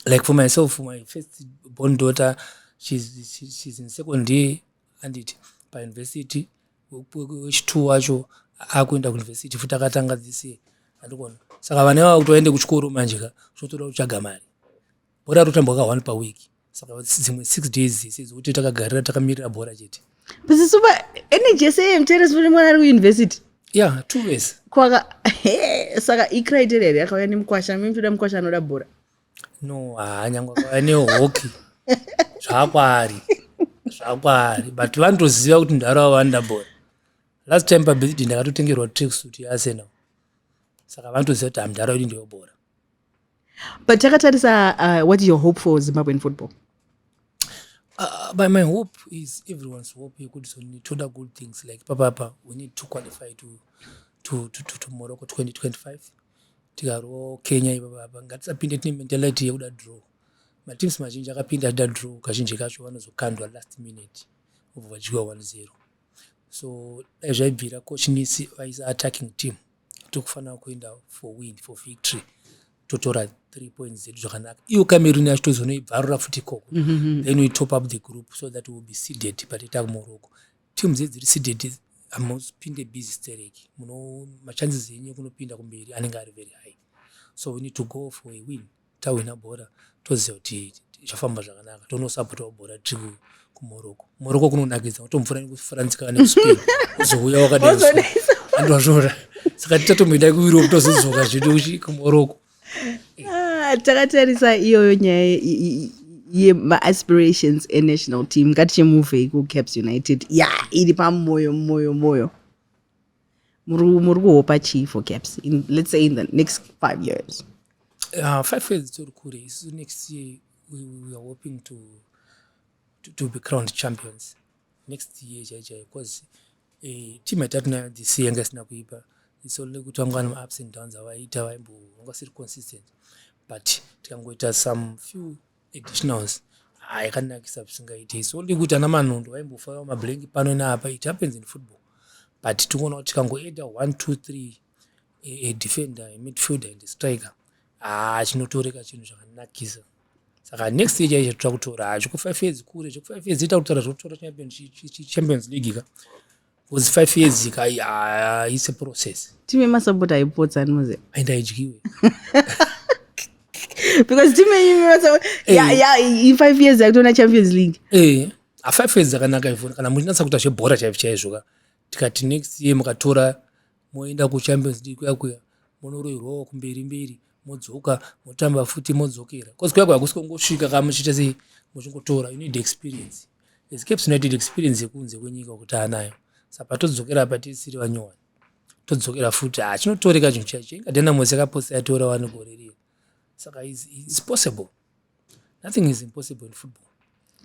like for myself my first born daughter she's, she's in second year anditi pauniversity wechitwo wacho akuenda kuuniversity futi akatanga this year andikona saka vana vava kuti vaende kuchikoro manje ka zvotoda kutsvaga mari bhora rotambwa ka one per week saka dzimwe six days dzese dzokuti takagarira takamirira bhora chete but supa energy yese yemtere sifuni mwana ari kuuniversity ya two years kwaka saka icriteria here yakauya nemukwasha mimi toda mukwasha anoda bhora no haa nyange akauya nehoki zvakwaari zvakwaari but vanotoziva kuti ndaro avo vanoda bhora last time pabirthday ndakatotengerwa track suit yaarsenal saka vanotoziva kuti hamdaro idi ndeyobhora but takatarisa uh, what is your hope for zimbabwean football Uh, but my hope is everyone's hope yekuti so toda good things like papapa we need to qualify to, to, to, to, to morocco 2025 tikarwo kenya ipapapa ngatisapinde tine mentality yekuda draw mateams mazhinji akapinda achida draw kazhinji kacho vanozokandwa last minute obva vachidyiwa 1 0 so dai zvaibvira coach nisi vaisa attacking team Tikufanira kuenda for win for victory totora three points dzedu zvakanaka iyo cameroon yacho tozonoibvarura futi ikoko mm -hmm. then we top up the group so that will be seeded pateta kumoroko team dze dziri seeded hamupinde busy stereki muno machances enyu ekunopinda kumberi anenge ari very high so we need to go for a win tawina bhora toziva kuti zvafamba zvakanaka tonosapotavo bhora tiri kumoroko moroko kunonakidza utomvura nekufransikana nekuspain uzouya wakadaiandwazvora saka tichatomboenda kueurope tozodzoka zvedu kumoroko ah, takatarisa iyoyo nyaya yemaaspirations enational team ngatichemuvei kucaps united ya iri pamoyo moyo moyo muri kuhopa chii for caps in, let's say in the next five years uh, five years tori kure isu next year we, we are hoping to, to, to be crowned champions next year chaichai bcause eh, team yatatiinayo this year yanga isina kuipa it's only kuti vanga vane maups and downs avaita vaimbovanga siri consistent but tikangoita some few additionals ah, yakanakisa zvisingaite it's only kuti ana manondo vaimbofaiwa mablank pano neapa it happens in football but tikuona kuti tikangoeda one two three a defender a midfielder and a striker ah, chinotoreka chinhu zvakanakisa saka next year chaicho tira kutora ah, zvekufive years kure zvekufive years ita kutaura zvekutaura champions league ka Because five years ika uh, it's a process. Team yema support haipotsa anoze. Aenda idyiwe. Because team yema support hey. yeah, yeah, in five years yakutona Champions League. Eh. Hey. A five years zakanaka ivona kana muchinatsa kuita zvebhora chaizvo chaizvo ka tikati next year mukatora moenda kuchampions league kuya kuya monoroirwawo kumberi mberi modzoka motamba futi modzokera bcause kuya kuya hakusi kongosvika kaa muchiita sei muchingotora you need experience as caps united experience yekunze kwenyika kuti anayo saka todzokera apa tisiri vanyowani todzokera futi ha ah, chinotoreka chinhu chacho ingadena mwese akaposa yatorawo anogorerira saka is possible Nothing is impossible in football.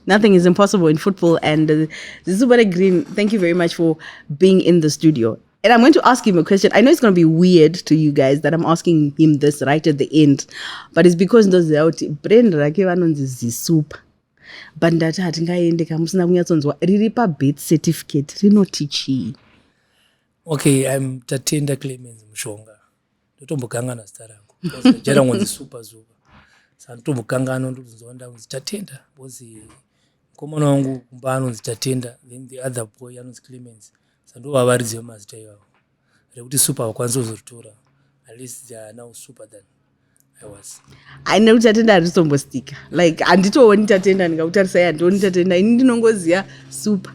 Nothing is impossible in football. And uh, Zizubare Green, thank you very much for being in the studio. And I'm going to ask him a question. I know it's going to be weird to you guys that I'm asking him this right at the end, but it's because ndoziva kuti brand rake vanonzi zisupa but ndati hatingaende ka musina kunyatsonzwa riri pabirth certificate rinoti chii okay i'm tatenda clemens mushonga ndotombokanganwa zita rangu jera ngonzi super zuva sa ndotombokanganwa ndokuzonzwa ndakunzi tatenda bcozi mukomana wangu kumba anonzi tatenda then the other boy anonzi clemens sa ndovavaridzi vemazita ivavo rekuti super vakwanisa kuzoritora at least they are now super than ai nekuti tatenda harizombostika like handitooni tatenda ndingakutarisa i handioni tatenda ini ndinongoziva super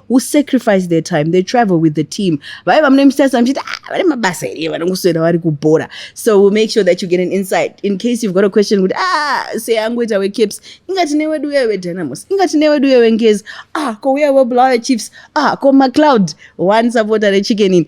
who sacrifice their time they travel with the team vaiva mune misasa muchiti ah, vane mabasa here vanongoswera vari kubhora so we'll make sure that you get an insight in case you've got a question kuti ah seangoita wecaps inga tine wedu uye wedynamos inga tine wedu uye wengezi ah kouya webulawayo chiefs ah komacloud one supporter rechicken ini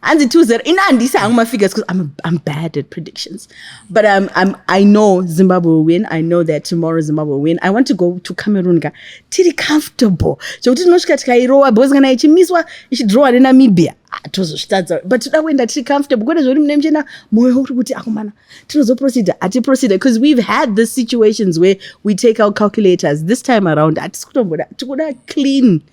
hanzi 20 ini handisi hangu mafigures because I'm, I'm bad at predictions but I'm, I'm, i know zimbabwe will win i know that tomorrow zimbabwe will win i want to go to cameroon ka tiri comfortable zvekuti tinosvika tikairowa because kana ichimiswa ichidrowa nenamibia ah, tozozvitadza but toda kuenda tiri comfortable kwete zvekuti mune muchena mwoyo uri kuti akomana tinozoproceda hatiproceda because we've had this situations where we take our calculators this time around hatisi kutomboda tikuda clean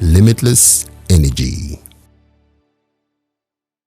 limitless energy